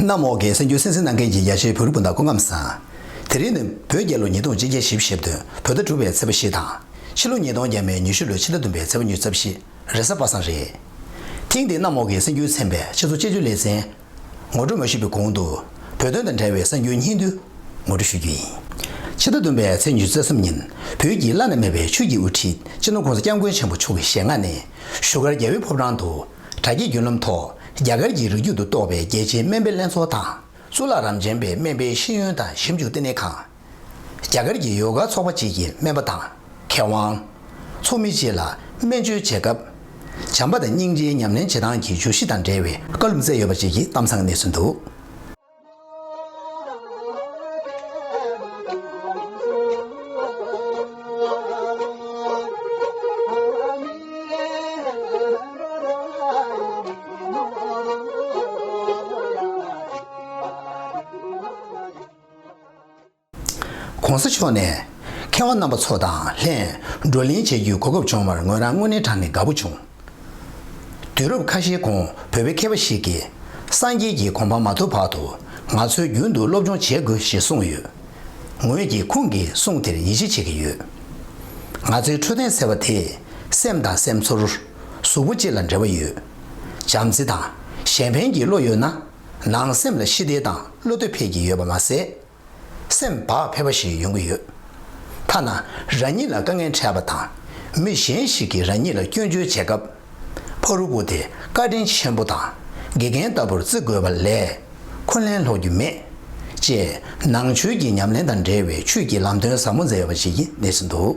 གནམ་འོག་གི་སེམས་རྒྱུད་སེམས་སེམས་ནང་མཁན་གྱི་ཡ་ཆེན་བུ་རི་སྤུན་ཟླ་ཀོ་ཁམས་བཟང། དེ་རིང་ནི་བོད་རྒྱལ་ལོ་ཉིས་སྟོང་གཅིག་བརྒྱ་བཞི་བཞི་བདུན་བོད་ཟླ་དྲུག་པའི་ཚེས་པ་བཞི་དང། ཕྱི་ལོ་ཉིས་སྟོང་བརྒྱད་མའི་ཉི་ཤུ་ལོའི་ཕྱི་ཟླ་བདུན་པའི་ཚེས་པ་གཉིས་རྩ་བཞི་རེས་གཟའ་པ་སངས་རེད། ཐེངས་འདིའི་གནམ་འོག་གི་སེམས་རྒྱུད་ཚན་པའི་ཕྱི་ཚུལ་དཔྱད་བརྗོད་ལེ་ཚན་ངོ་སྤྲོད་མ་ཞུས་པའི་གོང་དུ་བོད་དོན་དང་འབྲེལ་བའི་གསར་འགྱུར་སྙིང་བསྡུས་ངོ་སྤྲོད་ཞུ་རྒྱུ་ཡིན། ཕྱི་ཟླ་བདུན་པའི་ཚེས་ཉི་ཤུ་རྩ་གསུམ་ཉིན་བོད་ཀྱི་བླ་ན་མེད་པའི་ཆོས་ཀྱི་དབུ་ཁྲིད་སྤྱི་ནོར ྋགོང་ས ྋསྐྱབས་མགོན་ཆེན་པོ་མཆོག་གི་ཞལ་སྔ་ནས་བཞུགས་སྒར་རྒྱལ་བོའི་ཕོ་བྲང་དུ་དྲ་རྒྱའི་བརྒྱུད་ལམ་ཐོག་རྒྱ་གར་གྱི་རིགས་རྒྱུད་དུ་གཏོགས་པའི་རྒྱལ་གཅེས་སྨན་པའི་ལྷན་ཚོགས་དང་གཙུག་ལག་རམ་རྗེན་པའི་སྨན་པའི་ཤེས་ཡོན་དང་ཞིབ་འཇུག་བསྟི་གནས་ཁང། རྒྱ་གར་གྱི་ཡོ་ག་ཚོགས་པ་བཅས་ཀྱི་སྨན་པ་དང་མཁས་དབང། ཚོགས་མི་བཅས་ལ་སྨན་བཅོས་བྱེད་སྐབས། བྱམས་པ་དང་སྙིང་རྗེའི་ཉམས་ལེན་བྱེད་སྟངས་ཀྱི་འཇུག་གཞི་དང་འབྲེལ་བའི་བཀའ་ལུང་སྩལ་ཡོད་པ་བཅས་ཀྱི་གཏམ་བཟང་གནས་ཚུལ་འདུག། ྋགོང་ས་མཆོག་ནས། མཁས་དབང་རྣམ་པ་ཚོ་དང་ལྷན་བགྲོ་གླེང་བྱེད་རྒྱུའི་གོ་སྐབས་བྱུང་བར་ངོས་རང་དངོས་གནས་དྲང་ནས་དགའ་པོ་བྱུང། དུས་རབས་ཁ་ཤས་གོང་བོད་པའི་མཁས་པ་ཞིག་གིས། སངས་རྒྱས་ཀྱི་གོ་འཕང་མ་ཐོབ་བར་དུ་ང་ཚོས་རྒྱུན་དུ་སློབ་སྦྱོང་བྱེད་དགོས་ཞེས་གསུངས་ཡོད། ངོས་ཀྱིས་ཁོང་གི་གསུང་དེར་ཡིད་ཆེས་བྱེད་ཀྱི་ཡོད། ང་ཚོའི་འཕྲོད་བསྟེན་ཟེར་བ་དེས་སེམས་དང་སེམས་ཚོར། གཟུགས་པོ་བཅས་ལ་འབྲེལ་བ་ཡོད། བྱམས་བརྩེ་དང་གཞན་ཕན་གྱི་བློ་ཡོད་ན། ནང་སེམས་ལ་ཞི་བདེ་དང་བློ་གཏོད་འཕེལ་གྱི་ཡོད་པ་མ་ཟད། སེམས་བག་ཕེབས་པ་ཞིག་ཡོང་གི་ཡོད། ཐ་ན་རང་ཉིད་ལ་དཀའ་ངལ་འཕྲད་པ་དང་མི་གཞན་ཞིག་གིས་རང་ཉིད་ལ་སྐྱོན་བརྗོད་བྱེད་སྐབས། ཕ་རུ་པུ་དེ་བཀའ་དྲིན་ཆེན་པོ་དང་དགེ་རྒན་ལྟ་བུར་བརྩི་དགོས་པ་ལས་འཁོན་ལན་སློག་རྒྱུ་མེད། ཅེས་ནང་ཆོས་ཀྱི་ཉམས་ལེན་དང་འབྲེལ་བའི་ཆོས་ཀྱི་ལམ་སྟོན་ཟབ་མོ་མཛད་པ་ཞིག་གནས་ཟིན་འདུག།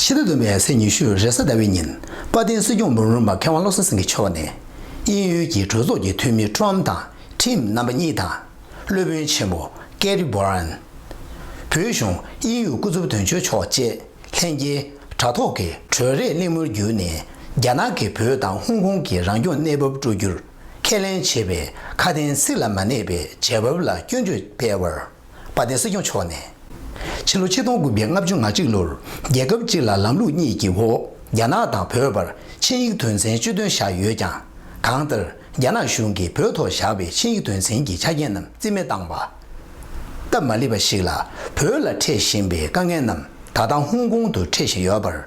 ཕྱི་ཟླ་བདུན་པའི་ཚེས་ཉི་ཤུ་རེས་གཟའ་ཟླ་བའི་ཉིན་དཔའ་ལྡན་སྲིད་སྐྱོང་འབུམ་རམས་པ་མཁས་དབང་བློ་བཟང་སེང་གེ་མཆོག་ནས་དབྱིན་ཡུལ་གྱི་གྲོས་ཚོགས་ཀྱི་འཐུས་མི་ཀྲོམ་དང་ཁྲིམ་རྣམ་པ་གཉིས་དང། སློབ་དཔོན་ཆེན་པོ་ཀེ་རི་བྷོ་རན། བོད་གཞུང་དབྱིན་ཡུལ་སྐུ་ཚབ་དོན་གཅོད་མཆོག་བཅས་ལྷན་རྒྱས་དྲ་ཐོག་གི་གྲོས་རེས་གླེང་མོལ་བརྒྱུད་ནས་རྒྱ་ནག་གིས་བོད་དང་ཧོང་ཀོང་གི་རང་སྐྱོང་གནས་བབ་སྤྲོད་རྒྱུར་ཁས་ལེན་བྱེད་པའི་ཁ་དན་ཚིག་ལ་མ་གནས་པའི་བྱེད་བབ་ལ་སྐྱོན་བརྗོད་སྤེལ་བར། དཔའ་བརྟན་སྲིད་སྐྱོང་མཆོག་ནས། ཕྱི་ལོ་ཆིག་སྟོང་དགུ་བརྒྱ་ལྔ་བཅུ་ང་གཅིག་ལོར་རྒྱལ་ཁབ་གཅིག་ལ་ལམ་ལུགས་གཉིས་ཀྱི་འོག་རྒྱ་ནག་དང་བོད་བར་ཆིངས་ཡིག་དོན་ཚན་བཅུ་བདུན་བཞག་ཡོད་ཀྱང། གང་ལྟར་རྒྱ་ནག་གཞུང་གིས་བོད་ཐོག་བཞག་པའི་ཆིངས་ཡིག་དོན་ཚན་གྱི་ཆ་རྐྱེན་རྣམས་རྩིས་མེད་བཏང་བ། སྟབས་མ་ལེགས་པ་ཞིག་ལ་བོད་ལ་འཕྲད་བཞིན་པའི་དཀའ་ངལ་རྣམས་ད་ལྟ་ཧོང་ཀོང་དུ་འཕྲད་བཞིན་ཡོད་པར།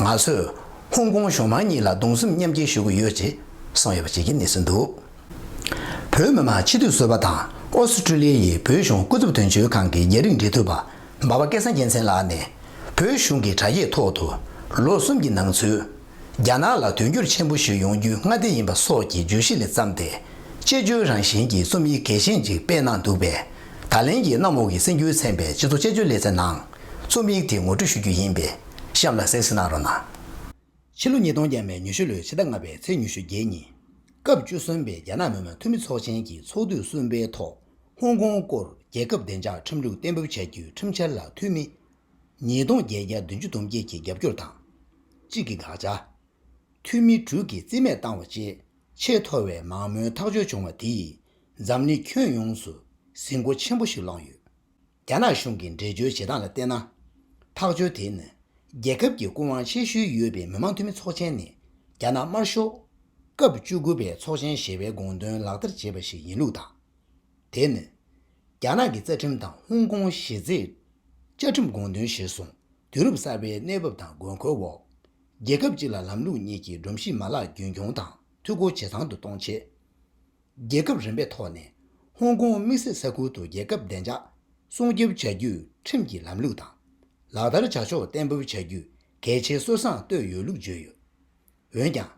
ང་ཚོས་ཧོང་ཀོང་གཞུང་མང་གཉིས་ལ་གདུང་སེམས་མཉམ་སྐྱེ་ཞུ་གི་ཡོད་ཅེས་གསུངས་ཡོད་པ་བཅས་ཀྱི་གནས་ཚུལ་འདུག། བོད་མི་མང་སྤྱི་འཐུས་ཟུར་པ་དང་ཨོ་སི་ཀྲི་ལི་ཡའི་བོད་གཞུང་སྐུ་ཚབ་དོན་གཅོད་ཁང་གི་རྒྱ་རིགས་འབྲེལ་མཐུད་པ་འབའ་པ་སྐལ་བཟང་རྒྱལ་མཚན་ལགས་ནས། བོད་གཞུང་གི་དྲ་རྒྱའི་ཐོག་ཏུ་ལོ་གསུམ་གྱི་ནང་ཚུད། རྒྱ་ནག་ལ་དོན་འཁྱོལ་ཆེན་པོ་ཞིག་ཡོང་རྒྱུའི་སྔ་ལྟས་ཡིན་པ་སོགས་ཀྱི་བརྗོད་གཞི་ལས་བརྩམས་ཏེ། དཔྱད་བརྗོད་རང་བཞིན་གྱི་རྩོམ་ཡིག་གལ་ཆེན་ཅིག་སྤེལ་གནང་འདུག་པས། ད་ལན་གྱི་གནམ་འོག་གི་སེམས་འགྱུའི་ཚན་པའི་སྤྱི་ཚོགས་དཔྱད་བརྗོད་ལེ་ཚན་ནང། རྩོམ་ཡིག་དེ་ངོ་སྤྲོད་ཞུ་རྒྱུ་ཡིན་པས་གཤམ་ལ་གསལ་བཤད་གནང་རོགས་གནང། ཕྱི་ལོ་ཉིས་སྟོང་བརྒྱད་མའི་ཉི་ཤུ་ལོའི་ཕྱི་ཟླ་ལྔ་པའི་ཚེས་ཉི་ཤུ་བརྒྱད་ཉིན། སྐབས་བཅུ་གསུམ་པའི་རྒྱ་ནག་མི་དམངས་འཐུས་མི་ཚོགས་ཆེན་གྱི་ཚོགས་དུས་གསུམ་པའི་ཐོག་ཧོང་ཀོང་སྐོར་རྒྱལ་ཁབ་བདེ་འཇགས་ཁྲིམས་ལུགས་གཏན་འབེབས་བྱ་རྒྱུའི་ཁྲིམས་འཆར་ལ་འཐུས་མི་ཉིས་སྟོང་བརྒྱད་བརྒྱ་བདུན་ཅུ་དུང་བརྒྱད་ཀྱི་རྒྱབ་སྐྱོར་དང། གཅིག་གི་དགག་བྱ། འཐུས་མི་དྲུག་གིས་རྩིས་མེད་བཏང་བ་བཅས་ཆེས་མཐོ་བའི་མང་མོས་ཐག་གཅོད་བྱུང་བ་དེས་འཛམ་གླིང་ཁྱོན་ཡོངས་སུ་ཟིང་མགོ་ཆེན་པོ་ཞིག་བསླངས་ཡོད། རྒྱ་ནག་གཞུང་གི་འགྲེལ་བརྗོད་བྱེད་སྟངས་ལ་བལྟས་ན། ཐག་གཅོད་དེ་ནི་རྒྱལ་ཁབ་ཀྱི་སྐུ་དབང་ཆེ་ཤོས་ཡོད་པའི་མི་མང་འཐུས་མི་ཚོགས་ཆེན་ནས་རྒྱ་ནག་དམར་ཤོག་སྐབས་བཅུ་དགུ་པའི་ཚོགས་ཆེན་ཞེས་པའི་དགོངས་དོན་ལག་བསྟར་བྱས་པ་ཞིག་ཡིན་ལུགས་དང། དེ་ནི་རྒྱ་ནག་གི་རྩ་ཁྲིམས་དང་ཧོང་ཀོང་གཞི་རྩའི་བཅའ་ཁྲིམས་དགོངས་དོན་གཞིར་བཟུང་དུས་རབས་གསར་པའི་གནས་བབ་དང་དགོས་མཁོའི་འོག་རྒྱལ་ཁབ་གཅིག་ལ་ལམ་ལུགས་གཉིས་ཀྱི་སྒྲོམ་གཞི་མ་ལག་རྒྱུན་འཁྱོངས་དང་འཐུས་སྒོ་ཇེ་ཚང་དུ་གཏོང་ཆེད། རྒྱལ་ཁབ་རིམ་པའི་ཐོག་ནས་ཧོང་ཀོང་དམིགས་བསལ་ས་ཁུལ་དུ་རྒྱལ་ཁབ་བདེ་འཇགས་སྲུང་སྐྱོབ་བྱ་རྒྱུའི་ཁྲིམས་ཀྱི་ལམ་ལུགས་དང་ལག་བསྟར་བྱ་ཕྱོགས་གཏན་འབེབས་བྱ་རྒྱུ་གལ་ཆེ་སྲོལ་བཟང་བཏོད་ཡོད་ལུགས་བརྗོད་ཡོད། འོན་ཀྱང།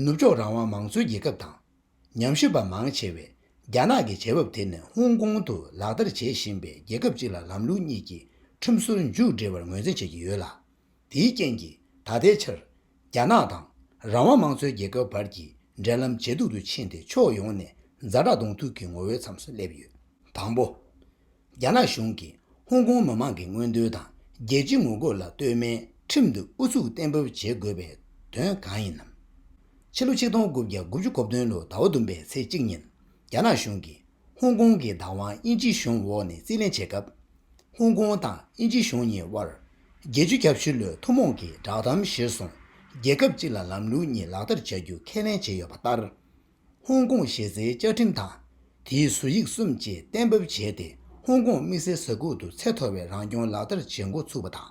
ནུབ་ཕྱོགས་རང་དབང་མང་གཙོའི་རྒྱལ་ཁབ་དང་ཉམས་ཞིབ་པ་མང་ཆེ་བས་རྒྱ་ནག་གི་བྱེད་བབ་དེ་ནི་ཧོང་ཀོང་དུ་ལག་བསྟར་བྱེད་བཞིན་པའི་རྒྱལ་ཁབ་གཅིག་ལ་ལམ་ལུགས་གཉིས་ཀྱི་ཁྲིམས་སྲོལ་མཇུག་སྒྲིལ་བར་ངོས་འཛིན་བྱེད་ཀྱི་ཡོད་ལ། དེའི་རྐྱེན་གྱིས་ད་ལྟའི་ཆར། རྒྱ་ནག་དང་རང་དབང་མང་གཙོའི་རྒྱལ་ཁབ་བར་གྱི་འབྲེལ་ལམ་ཇེ་སྡུག་ཏུ་ཕྱིན་ཏེ་ཕྱོགས་ཡོངས་ནས་རྫ་དྲག་གདོང་ཐུག་གི་ངོ་བོའི་མཚམས་སུ་སླེབས་ཡོད། དང་པོ། རྒྱ་ནག་གཞུང་གིས་ཧོང་ཀོང་མི་མང་གི་མངོན་འདོད་དང་རྒྱལ་སྤྱིའི་ངོ་རྒོལ་ལ་ལྟོས་མེད་ཁྲིམས་དུ་ཨུ་ཚུགས་གཏན་འབེབས་བྱེད་དགོས་པའི་དོན་གང་ཡིན་ནམ། ཕྱི་ལོ་ཆིག་སྟོང་དགུ་བརྒྱ་དགུ་བཅུ་གོ་བདུན་ལོའི་ཟླ་བ་བདུན་པའི་ཚེས་གཅིག་ཉིན་རྒྱ་ནག་གཞུང་གིས། ཧོང་ཀོང་གི་བདག་དབང་དབྱིན་ཇི་གཞུང་འོག་ནས་རྩིས་ལེན་བྱས་སྐབས། ཧོང་ཀོང་དང་དབྱིན་ཇི་གཞུང་གཉིས་དབར། བརྒྱད་ཅུ་གྱ་བཞི་ལོའི་ཐུན་མོང་གི་བསྒྲགས་གཏམ་གཞིར་བཟུང་རྒྱལ་ཁབ་གཅིག་ལ་ལམ་ལུགས་གཉིས་ལག་བསྟར་བྱ་རྒྱུ་ཁས་ལེན་བྱས་ཡོད་པ་ལྟར། ཧོང་ཀོང་གཞི་རྩའི་བཅའ་ཁྲིམས་དང་དེའི་བཟོ་ཡིག་གསུམ་བཅས་གཏན་འབེབས་བྱས་ཏེ་ཧོང་ཀོང་དམིགས་བསལ་ས་ཁུལ་དུ་ཚད་མཐོ་བའི་རང་སྐྱོང་ལག་བསྟར་བྱེད་འགོ་ཚུགས་པ་དང།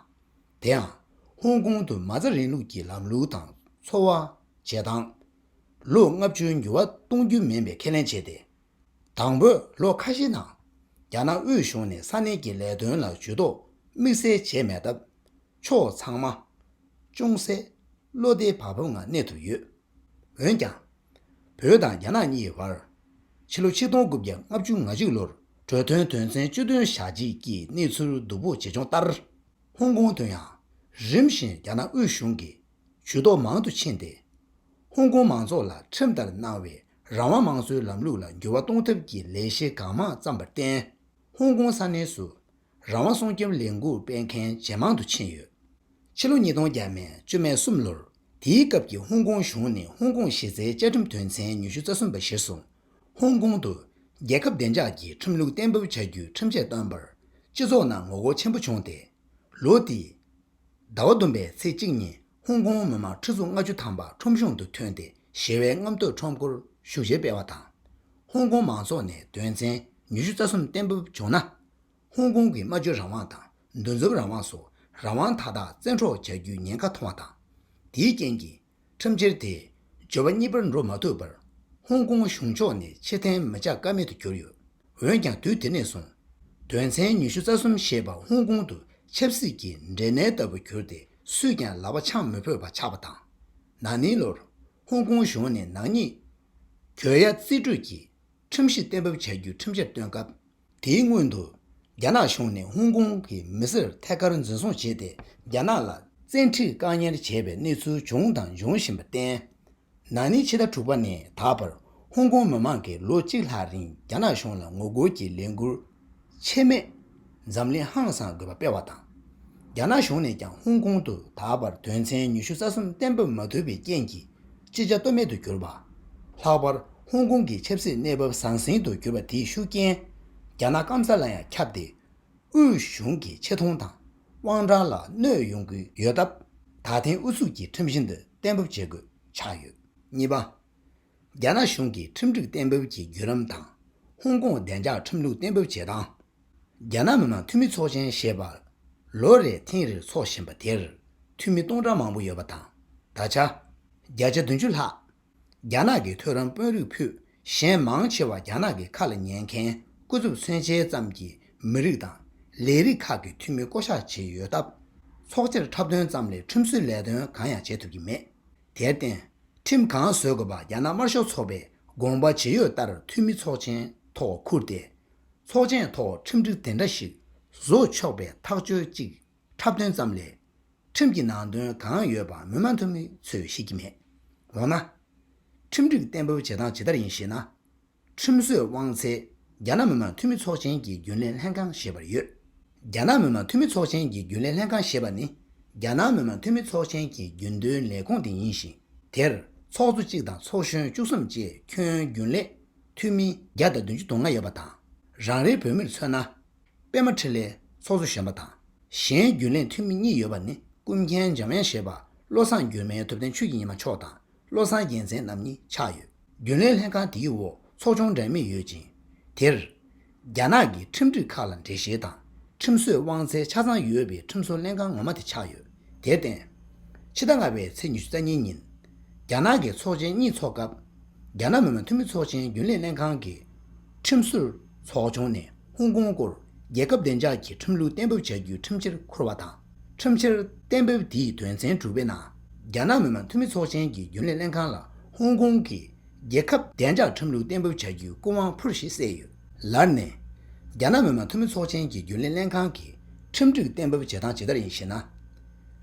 དེའང་ཧོང་ཀོང་དུ་མ་རྩ་རིང་ལུགས་ཀྱི་ལམ་ལུགས་དང་འཚོ་བ། བྱེད་སྟངས། ལོ་ལྔ་བཅུའི་འགྱུར་བ་གཏོང་རྒྱུ་མིན་པའི་ཁས་ལེན་བྱས་ཏེ། དང་པོའི་ལོ་ཁ་ཤས་ནང་རྒྱ་ནག་དབུས་གཞུང་ནས་ས་གནས་ཀྱི་ལས་དོན་ལ་ཇུས་གཏོགས་དམིགས་བསལ་བྱས་མེད་སྟབས། ཕྱོགས་ཚང་མ། ཅུང་ཟད། བློ་བདེ་བག་ཕེབས་ངང་གནས་ཐུབ་ཡོད། འོན་ཀྱང། བོད་དང་རྒྱ་ནག་གཉིས་བར། ཕྱི་ལོ་ཆིག་སྟོང་དགུ་བརྒྱ་ལྔ་བཅུ་ང་གཅིག་ལོར་གྲོས་མཐུན་དོན་ཚན་བཅུ་བདུན་བཞག་རྗེས་ཀྱི་གནས་ཚུལ་སྡུག་པོ་ཇེ་ཆུང་ལྟར། ཧོང་ཀོང་དུ་ཡང་རིམ་བཞིན་རྒྱ་ནག་དབུས་གཞུང་གིས་ཇུས་གཏོགས་མང་དུ་ཕྱིན་ཏེ། ཧོང་ཀོང་མང་ཚོགས་ལ་ཁྲིམས་ལྟར་གནང་བའི་རང་དབང་དམངས་གཙོའི་ལམ་ལུགས་ལ་འགྱུར་བ་གཏོང་ཐབས་ཀྱི་ལས་གཞི་གང་མང་བརྩམས་པར་བརྟེན། ཧོང་ཀོང་ས་གནས་སུ་རང་དབང་སྲུང་སྐྱོབ་ལས་འགུལ་སྤེལ་མཁན་ཇེ་མང་དུ་ཕྱིན་ཡོད། ཕྱི་ལོ་ཉིས་སྟོང་བརྒྱད་མའི་བཅོ་ལྔའི་གསུམ་ལོར་དེའི་སྐབས་ཀྱི་ཧོང་ཀོང་གཞུང་ནས་ཧོང་ཀོང་གཞི་རྩའི་བཅའ་ཁྲིམས་དོན་ཚན་ཉི་ཤུ་རྩ་གསུམ་པ་གཞིར་བཟུང། ཧོང་ཀོང་དུ་རྒྱལ་ཁབ་བདེ་འཇགས་ཀྱི་ཁྲིམས་ལུགས་གཏན་འབེབས་བྱ་རྒྱུའི་ཁྲིམས་ཆད་བཏོན་པར་སྤྱི་ཚོགས་ནང་ངོ་རྒོལ་ཆེན་པོ་བྱུང་སྟེ། ལོ་དེའི་ཟླ་བ་བདུན་པའི་ཚེས་གཅིག་ཉིན་ཧོང་ཀོང་མི་མང་ཁྲི་ཚོ་ལྔ་བཅུ་ཐམ་པ་ཁྲོམ་གཞུང་དུ་ཐོན་ཏེ་ཞི་བའི་རྔམ་སྟོན་ཁྲོམ་སྐོར་ཞུ་བཞེས་སྤེལ་བ་དང། ཧོང་ཀོང་མང་ཚོགས་ནས་དོན་ཚན་ཉི་ཤུ་རྩ་གསུམ་གཏན་འབེབས་བྱུང་ན། ཧོང་ཀོང་གི་སྨྲ་བརྗོད་རང་དབང་དང་འདུ་འཛོམས་རང་དབང་སོགས་རང་དབང་མཐའ་དག་བཙན་འཕྲོག་བྱ་རྒྱུའི་ཉེན་ཁ་མཐོང་བ་དང། དེའི་རྐྱེན་གྱིས། ཁྲིམས་འཆར་དེ་སྦྱོར་བ་གཉིས་པར་འགྲོ་མ་ཐུབ་པར་ཧོང་ཀོང་གཞུང་ཕྱོགས་ནས་ཕྱིར་འཐེན་མི་བྱ་ཀ་མེད་དུ་གྱུར་ཡོད། འོན་ཀྱང་དུས་དེ་ནས་བཟུང་དོན་ཚན་ཉི་ཤུ་རྩ་གསུམ་ཞེས་པ་ཧོང་ཀོང་དུ་ཆབ་སྲིད་ཀྱི་འབྲས་ནད་ལྟ་བུ་གྱུར་ཏེ་སུས་ཀྱང་ལག་པ་འཆང་མི་ཕོད་པ་ཆགས་པ་དང། ན་ནིང་ལོར་ཧོང་ཀོང་གཞུང་ནས་ནག་ཉེས། གྱོད་ཡ་རྩིས་སྤྲོད་ཀྱིས་ཁྲིམས་གཞི་གཏན་འབེབས་བྱ་རྒྱུའི་ཁྲིམས་འཆར་བཏོན་སྐབས། དེའི་སྔོན་དུ། རྒྱ་ནག་གཞུང་ནས་ཧོང་ཀོང་གི་མི་སེར་ཐད་ཀར་འཛིན་བཟུང་བྱས་ཏེ་རྒྱ་ནག་ལ་བཙན་ཁྲིད་བཀག་ཉར་བྱས་པའི་གནས་ཚུལ་བྱུང་དང་འབྱུང་བཞིན་པར་བརྟེན། ན་ནིང་ཕྱི་ཟླ་དྲུག་པ་ནས་ད་བར་ཧོང་ཀོང་མི་མང་གིས་ལོ་གཅིག་ལྷག་རིང་རྒྱ་ནག་གཞུང་ལ་ངོ་རྒོལ་གྱི་ལས་འགུལ་ཆད་མེད། འཛམ་གླིང་ཧང་སངས་དགོས་པ་སྤེལ་བ་དང། རྒྱ་ནག་གཞུང་ནས་ཀྱང་ཧོང་ཀོང་དུ་ད་བར་དོན་ཚན་ཉི་ཤུ་རྩ་གསུམ་གཏན་འབེབས་མ་ཐུབ་པའི་རྐྱེན་གྱིས། ཅི་བྱ་གཏོལ་མེད་དུ་གྱུར་པ། ལྷག་པར་ཧོང་ཀོང་གི་ཆབ་སྲིད་གནས་བབ་ཟང་ཟིང་དུ་གྱུར་པ་དེའི་ཤུགས་རྐྱེན། རྒྱ་ནག་སྐམ་ས་ལ་ཡང་ཁྱབ་སྟེ། དབུས་གཞུང་གི་ཆེ་མཐོང་དང་དབང་གྲགས་ལ་གནོད་ཡོང་གི་ཡོད་སྟབས། ད་ཐེངས་ཨུ་ཚུགས་ཀྱིས་ཁྲིམས་བཞིན་དུ་གཏན་འབེབས་བྱེད་དགོས་ཆགས་ཡོད། གཉིས་པ། རྒྱ་ནག་གཞུང་གིས་ཁྲིམས་སྒྲིག་གཏན་འབེབས་ཀྱི་བརྒྱུད་ལམ་དང་ཧོང་ཀོང་བདེ་འཇགས་ཁྲིམས་ལུགས་གཏན་འབེབས་བྱེད་སྟངས། རྒྱ་ནག་མི་མང་འཐུས་མི་ཚོགས་ཆེན་ཞེས་པ། ལོ་རེའི་ཐེངས་རེར་འཚོགས་བཞིན་པ་དེར། འཐུས་མི་སྟོང་ཕྲག་མང་པོ་ཡོད་པ་དང། ད་ཆ། བརྒྱ་ཆ་བདུན་ཅུ་ལྷག། རྒྱ་ནག་གི་མཐོ་རིམ་དཔོན་རིགས་ཕུད། གཞན་མང་ཆེ་བ་རྒྱ་ནག་གི་ཁ་ལ་ཉན་མཁན་སྐུ་ཚབ་མཚོན་བྱེད་ཙམ་གྱི་མི་རིགས་དང། ལས་རིགས་ཁག་གི་འཐུས་མི་བསྐོ་གཞག་བྱས་ཡོད་སྟབས། ཚོགས་ཆེར་འཁྲབ་སྟོན་ཙམ་ལས་ཁྲིམས་བཟོའི་ལས་དོན་གང་ཡང་བྱེད་ཐུབ་ཀྱི་མེད། དེར་བརྟེན། ཁྲིམས་གང་བཟོས་དགོས་པ་རྒྱ་ནག་དམར་ཤོག་ཚོགས་པའི་དགོངས་པ་ཇི་ཡོད་ལྟར་འཐུས་མི་ཚོགས་ཆེན་ཐོག་འཁུར་ཏེ། ཚོགས་ཆེན་ཐོག་ཁྲིམས་སྒྲིག་དེ་འདྲ་ཞིག་བཟོ་ཆོག་པའི་ཐག་གཅོད་ཅིག་འཁྲབ་སྟོན་ཙམ་ལས། ཁྲིམས་ཀྱི་ནང་དོན་གང་ཡོད་པ་མི་མང་འཐུས་མི་ཚོས་ཤེས་ཀྱི་མེད། འོ་ན། ཁྲིམས་སྒྲིག་གཏན་འབེབས་བྱེད་སྟངས་ཇི་ལྟར་ཡིན་ཞེ་ན། ཁྲིམས་བཟོས་དབང་ཚད་རྒྱ་ནག་མི་མང་འཐུས་མི་ཚོགས་ཆེན་གྱི་རྒྱུན་ལས་ལྷན་ཁང་ཞེས་པར་ཡོད། རྒྱ་ནག་མི་མང་འཐུས་མི་ཚོགས་ཆེན་གྱི་རྒྱུན་ལས་ལྷན་ཁང་ཞེས་པ་ནི་རྒྱ་ནག་མི་མང་འཐུས་མི་ཚོགས་ཆེན་གྱི་རྒྱུན་གཏོའི་ལས་ཁུངས་དེ་ཡིན་ཞིང་དེར་ཚོགས་གཙོ་གཅིག་དང་ཚོགས་གཞོན་བཅུ་གསུམ་བཅས་ཁྱོན་རྒྱུན་ལས་ཐུན་མིན་བརྒྱ་དང་བདུན་ཅུ་དོ་ལྔ་ཡོད་པ་དང། རང་རེའི་བོད་མིར་མཚོན་ན། པད་མ་འཕྲིན་ལས་ཚོགས་གཙོ་གཞོན་པ་དང་གཞན་རྒྱུན་ལས་འཐུས་མི་གཉིས་ཡོད་པ་ནི་ཀུན་མཁྱེན་འཇམ་དབྱངས་བཞད་པ་བློ་བཟང་སྒྱུ་མའི་ཐུབ་བསྟན་ཆོས་ཀྱི་ཉི་མ་མཆོག་དང་བློ་བཟང་རྒྱལ་མཚན་རྣམ་གཉིས་ཆགས་ཡོད། རྒྱུན་ལས་ལྷན་ཁང་དེའི་འོག་ཚོགས་ཆུང་འགྲན་མེད་ཡོད་ཅིང། དེར། རྒྱ་ནག་གི་ཁྲིམས་སྒྲིག་ཁག་ལ་འགྲེལ་བཤད་དང་ཁྲིམས་བཟོས་དབང་ཚད་ཆ་ཚང་ཡོད་པའི་ཁྲིམས་བཟོ་ལྷན་ཁང་ངོ་མ་དེ་ཆགས་ཡོད། དེར་བརྟེན། ཕྱི་ཟླ་ལྔ་པའི་ཚེས་ཉི་ཤུ་རྩ་གཉིས་ཉིན། རྒྱ་ནག་གི་ཚོགས་ཆེན་གཉིས་ཚོགས་སྐབས། རྒྱ་ནག་མི་དམངས་འཐུས་མི་ཚོགས་ཆེན་རྒྱུན་ལས་ལྷན་ཁང་གིས། ཁྲིམས་བཟོ་ཚོགས་ཆུང་ནས་ཧོང་ཀོང་སྐོར་རྒྱལ་ཁབ་བདེ་འཇགས་ཀྱི་ཁྲིམས་ལུགས་གཏན་འབེབས་བྱ་རྒྱུའི་ཁྲིམས་ཆེར་འཁུར་བ་དང། ཁྲིམས་ཆེར་གཏན་འབེབས་དེའི་དོན་ཚན་དྲུག་པའི་ནང། རྒྱ་ནག་མི་དམངས་འཐུས་མི་ཚོགས་ཆེན་གྱི་རྒྱུན་ལས་ལྷན་ཁང་ལ་ཧོང་ཀོང་གི་རྒྱལ་ཁབ་བདེ་འཇགས་ཁྲིམས་ལུགས་གཏན་འབེབས་བྱ་རྒྱུའི་སྐུ་དབང་འཕུར་ཞེས་གསལ་ཡོད། ལར་ནས། རྒྱ་ནག་མི་དམངས་འཐུས་མི་ཚོགས་ཆེན་གྱི་རྒྱུན་ལས་ལྷན་ཁང་གིས་ཁྲིམས་སྒྲིག་གཏན་འབེབས་བྱེད་སྟངས་ཇི་ལྟར་ཡིན་ཞེ་ན།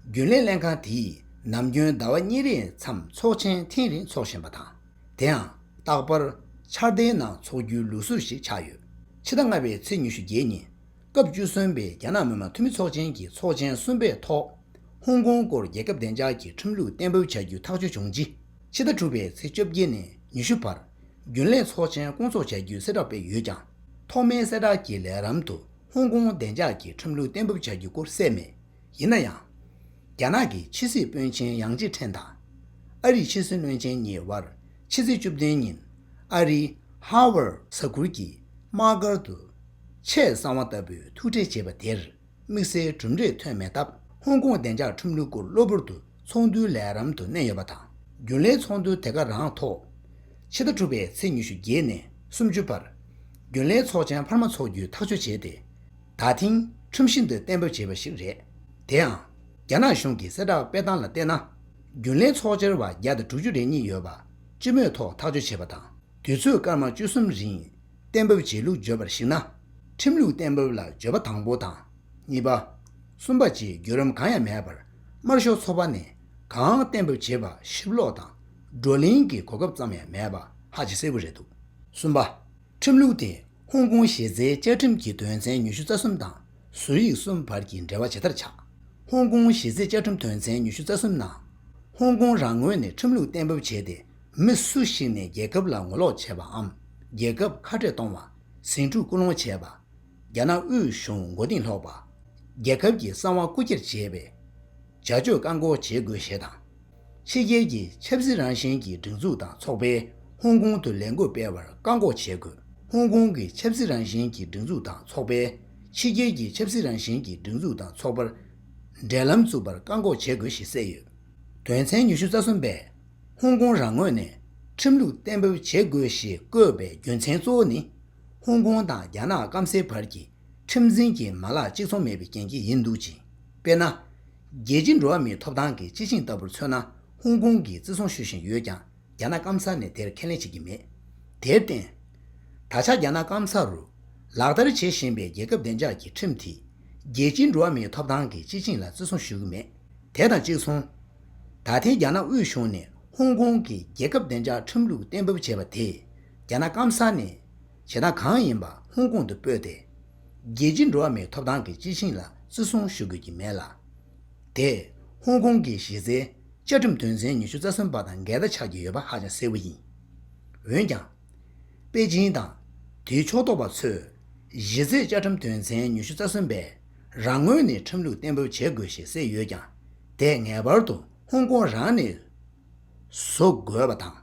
རྒྱུན་ལས་ལྷན་ཁང་དེས་ནམ་རྒྱུན་ཟླ་བ་གཉིས་རེའི་མཚམས་ཚོགས་ཆེན་ཐེངས་རེ་འཚོགས་བཞིན་པ་དང། དེའང་རྟག་པར་འཆར་ཟླའི་ནང་འཚོགས་རྒྱུའི་ལུགས་སྲོལ་ཞིག་ཆགས་ཡོད། ཕྱི་ཟླ་ལྔ་པའི་ཚེས་ཉི་ཤུ་བརྒྱད་ཉིན། སྐབས་བཅུ་གསུམ་པའི་རྒྱ་ནག་མི་དམངས་འཐུས་མི་ཚོགས་ཆེན་གྱི་ཚོགས་ཆེན་གསུམ་པའི་ཐོག། ཧོང་ཀོང་སྐོར་རྒྱལ་ཁབ་བདེ་འཇགས་ཀྱི་ཁྲིམས་ལུགས་གཏན་འབེབས་བྱ་རྒྱུའི་ཐག་གཅོད་བྱུང་རྗེས། ཕྱི་ཟླ་དྲུག་པའི་ཚེས་བཅོ་བརྒྱད་ནས་ཉི་ཤུ་བར་རྒྱུན་ལས་ཚོགས་ཆེན་སྐོང་འཚོགས་བྱ་རྒྱུའི་གསལ་བསྒྲགས་སྤེལ་ཡོད་ཀྱང། ཐོག་མའི་གསལ་བསྒྲགས་ཀྱི་ལས་རམ་དུ་ཧོང་ཀོང་བདེ་འཇགས་ཀྱི་ཁྲིམས་ལུགས་གཏན་འབེབས་བྱ་རྒྱུ་སྐོར་གསལ་མེད། ཡིན་ན་ཡང། རྒྱ་ནག་གི་ཕྱི་སྲིད་དཔོན་ཆིན་ཡཱང་ཅི་ཁྲེན་དང། ཨ་རིའི་ཕྱི་སྲིད་བློན་ཆེན་གཉིས་དབར་ཕྱི་ཚེས་བཅུ་བདུན་ཉིན་ཨ་རིའི Harvard ས་ཁུལ་གྱི་དམག་སྒར་དུ། ཆེས་གསང་བ་ལྟ་བུའི་ཐུག་འཕྲད་བྱས་པ་དེར་དམིགས་བསལ་གྲུབ་འབྲས་ཐོན་མེད་སྟབས་ཧོང་ཀོང་བདེ་འཇགས་ཁྲིམས་ལུགས་སྐོར་གློ་བུར་དུ་ཚོགས་འདུའི་ལས་རམ་དུ་བསྣན་ཡོད་པ་དང་རྒྱུན་ལས་ཚོགས་འདུ་དེ་ག་རང་ཐོག་ཕྱི་ཟླ་དྲུག་པའི་ཚེས་ཉི་ཤུ་བརྒྱད་ནས་སུམ་ཅུ་བར་རྒྱུན་ལས་ཚོགས་ཆེན་འཕར་མ་འཚོགས་རྒྱུའི་ཐག་གཅོད་བྱས་ཏེ། ད་ཐེངས་ཁྲིམས་ཤིང་འདི་གཏན་འབེབས་བྱས་པ་ཞིག་རེད། དེ་ཡང། རྒྱ་ནག་གཞུང་གི་གསལ་བསྒྲགས་སྤེལ་སྟངས་ལ་བལྟས་ན། རྒྱུན་ལས་ཚོགས་ཆེར་བར་བརྒྱ་དང་དྲུག་ཅུ་རེ་གཉིས་ཡོད་པ་སྤྱི་མོས་ཐོག་ཐག་གཅོད་བྱས་པ་དང་དུས་ཚོད་སྐར་མ་བཅུ་གསུམ་རིང། གཏན་ཕབ་བྱེད་ལུགས་བརྗོད་པར་གཞིགས་ན། ཁྲིམས་ལུགས་གཏན་ཕབ་ལ་བརྗོད་པ་དང་པོ་དང། གཉིས་པ། གསུམ་པ་བཅས་བརྒྱུད་རིམ་གང་ཡང་མེད་པར་དམར་ཤོག་ཚོགས་པ་ནས་གང་གཏན་ཕབ་བྱེད་པ་ཞིབ་ཀློག་དང་བགྲོ་གླེང་གི་གོ་སྐབས་ཙམ་ཡང་མེད་པ་ཧ་ཅང་གསལ་བོ་རེད་འདུག་གསུམ་པ། ཁྲིམས་ལུགས་དེས་ཧོང་ཀོང་གཞི་རྩའི་བཅའ་ཁྲིམས་ཀྱི་དོན་ཚན་ཉི་ཤུ་རྩ་གསུམ་དང་ཟུར་ཡིག་གསུམ་བར་གྱི་འབྲེལ་བ་ཇི་ལྟར་ཆགས། ཧོང་ཀོང་གཞི་རྩའི་བཅའ་ཁྲིམས་དོན་ཚན་ཉི་ཤུ་རྩ་གསུམ་ནང། ཧོང་ཀོང་རང་ངོས་ནས་ཁྲིམས་ལུགས་གཏན་ཕབ་བྱས་ཏེ་མི་སུ་ཞིག་ནས་རྒྱལ་ཁབ་ལ་ངོ་ལོག་བྱས་པའམ་རྒྱལ་ཁབ་ཁ་བྲལ་གཏོང་བ། ཟིང་འཁྲུག་སྐུལ་སློང་བྱས་པ། རྒྱ་ནག་དབུས་གཞུང་མགོ་རྟིང་སློག་པ། རྒྱལ་ཁབ་ཀྱི་གསང་བ་རྐུ་འཁྱེར་བྱས་པའི་བྱ་སྤྱོད་བཀག་འགོག་བྱེད་དགོས་ཞེས་དང། ཕྱི་རྒྱལ་གྱི་ཆབ་སྲིད་རང་བཞིན་གྱི་སྒྲིག་འཛུགས་དང་ཚོགས་པས་ཧོང་ཀོང་དུ་ལས་འགུལ་སྤེལ་བར་བཀག་འགོག་བྱེད་དགོས། ཧོང་ཀོང་གི་ཆབ་སྲིད་རང་བཞིན་གྱི་སྒྲིག་འཛུགས་དང་ཚོགས་པས་ཕྱི་རྒྱལ་གྱི་ཆབ་སྲིད་རང་བཞིན་གྱི་སྒྲིག་འཛུགས་དང་ཚོགས་པར་འབྲེལ་ལམ་བཙུགས་པར་བཀག་འགོག་བྱེད་དགོས་ཞེས་གསལ་ཡོད། དོན་ཚན་ཉི་ཤུ་རྩ་གསུམ་པས། ཧོང་ཀོང་རང་ངོས་ནས་ཁྲིམས་ལུགས་གཏན་འབེབས་བྱེད་དགོས་ཞེས་བཀོད་པའི་རྒྱུ་མཚན་གཙོ་བོ་ནི། ཧོང་ཀོང་དང་རྒྱ་ནག་སྐམ་སའི་བར་གྱི་ཁྲིམས་འཛིན་གྱི་མ་ལག་གཅིག་མཚུངས་མེད་པའི་རྐྱེན་གྱིས་ཡིན་འདུག་ཅིང། དཔེར་ན། རྒྱལ་སྤྱིའི་འགྲོ་བ་མིའི་ཐོབ་ཐང་གི་སྤྱི་ཆིངས་ལྟ་བུར་མཚོན་ན་ཧོང་ཀོང་གིས་བརྩི་སྲུང་ཞུ་བཞིན་ཡོད་ཀྱང་རྒྱ་ནག་སྐམ་ས་ནས་དེར་ཁས་ལེན་བྱེད་ཀྱི་མེད། དེར་བརྟེན། ད་ཆ་རྒྱ་ནག་སྐམ་ས་རུ་ལག་བསྟར་བྱེད་བཞིན་པའི་རྒྱལ་ཁབ་བདེ་འཇགས་ཀྱི་ཁྲིམས་དེས་རྒྱལ་སྤྱིའི་འགྲོ་བ་མིའི་ཐོབ་ཐང་གི་སྤྱི་ཆིངས་ལ་བརྩི་སྲུང་ཞུ་གི་མེད། དེ་དང་གཅིག་མཚུངས། ད་ཐེངས་རྒྱ་ནག་དབུས་གཞུང་ནས་ཧོང་ཀོང་གི་རྒྱལ་ཁབ་བདེ་འཇགས་ཁྲིམས་ལུགས་གཏན་འབེབས་བྱས་པ་དེས་རྒྱ་ནག་སྐམ་ས་ནས་བྱེད་སྟངས་གང་ཡིན་པ་ཧོང་ཀོང་དུ་སྤོས་ཏེ། རྒྱལ་སྤྱིའི་འགྲོ་བ་མིའི་ཐོབ་ཐང་གི་སྤྱི་ཆིངས་ལ་བརྩི་སྲུང་ཞུ་དགོས་ཀྱི་མེད་ལ། དེས་ཧོང་ཀོང་གི་གཞི་རྩའི་བཅའ་ཁྲིམས་དོན་ཚན་ཉི་ཤུ་རྩ་གསུམ་པ་དང་འགལ་ཟླ་ཆགས་ཀྱི་ཡོད་པ་ཧ་ཅང་གསལ་བོ་ཡིན། འོན་ཀྱང། པེ་ཅིན་དང། དེའི་ཕྱོགས་གཏོགས་པ་ཚོས། གཞི་རྩའི་བཅའ་ཁྲིམས་དོན་ཚན་ཉི་ཤུ་རྩ་གསུམ་པས་རང་ངོས་ནས་ཁྲིམས་ལུགས་གཏན་འབེབས་བྱེད་དགོས་ཞེས་གསལ་ཡོད་ཀྱང། དེས་ངེས་པར་དུ་ཧོང་ཀོང་རང་ནས་བཟོ་དགོས་པ་དང།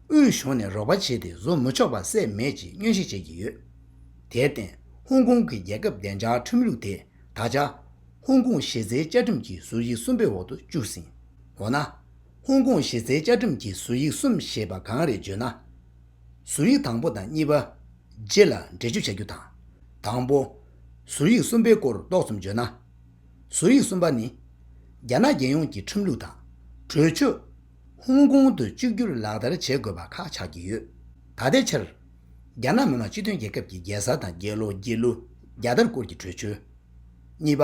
དབུས་གཞུང་ནས་རོགས་པ་བྱས་ཏེ་བཟོ་མི་ཆོག་པ་སྲེད་མེད་ཀྱིས་སྙན་ཞུ་བྱེད་ཀྱི་ཡོད། དེར་བརྟེན་ཧོང་ཀོང་གི་རྒྱལ་ཁབ་བདེ་འཇགས་ཁྲིམས་ལུགས་དེ་ད་ཆ། ཧོང་ཀོང་གཞི་རྩའི་བཅའ་ཁྲིམས་ཀྱི་ཟུར་གཞི་གསུམ་པའི་འོག་ཏུ་བཅུག་ཟིན། འོ་ན། ཧོང་ཀོང་གཞི་རྩའི་བཅའ་ཁྲིམས་ཀྱི་ཟུར་ཡིག་གསུམ་ཞེས་པ་གང་རེད་བརྗོད་ན། ཟུར་ཡིག་དང་པོ་དང་གཉིས་པ། རྗེས་ལ་འགྲེལ་བརྗོད་བྱ་རྒྱུ་དང། དང་པོ། ཟུར་ཡིག་གསུམ་པའི་སྐོར་ཏོག་ཙམ་བརྗོད་ན། ཟུར་ཡིག་གསུམ་པ་ནི། རྒྱ་ནག་རྒྱལ་ཡོངས་ཀྱི་ཁྲིམས་ལུགས་དང། གྲོས་ཆོད། ཧོང་ཀོང་དུ་གཅིག་གྱུར་ལག་བསྟར་བྱེད་དགོས་པ་ཁག་ཆགས་ཀྱི་ཡོད། ད་ལྟའི་ཆར། རྒྱ་ནག་མི་དམངས་སྤྱི་མཐུན་རྒྱལ་ཁབ་ཀྱི་རྒྱལ་ས་དང་རྒྱལ་ལོ་རྒྱལ་གླུ་རྒྱལ་དར་སྐོར་གྱི་གྲོས་ཆོད། གཉིས་པ།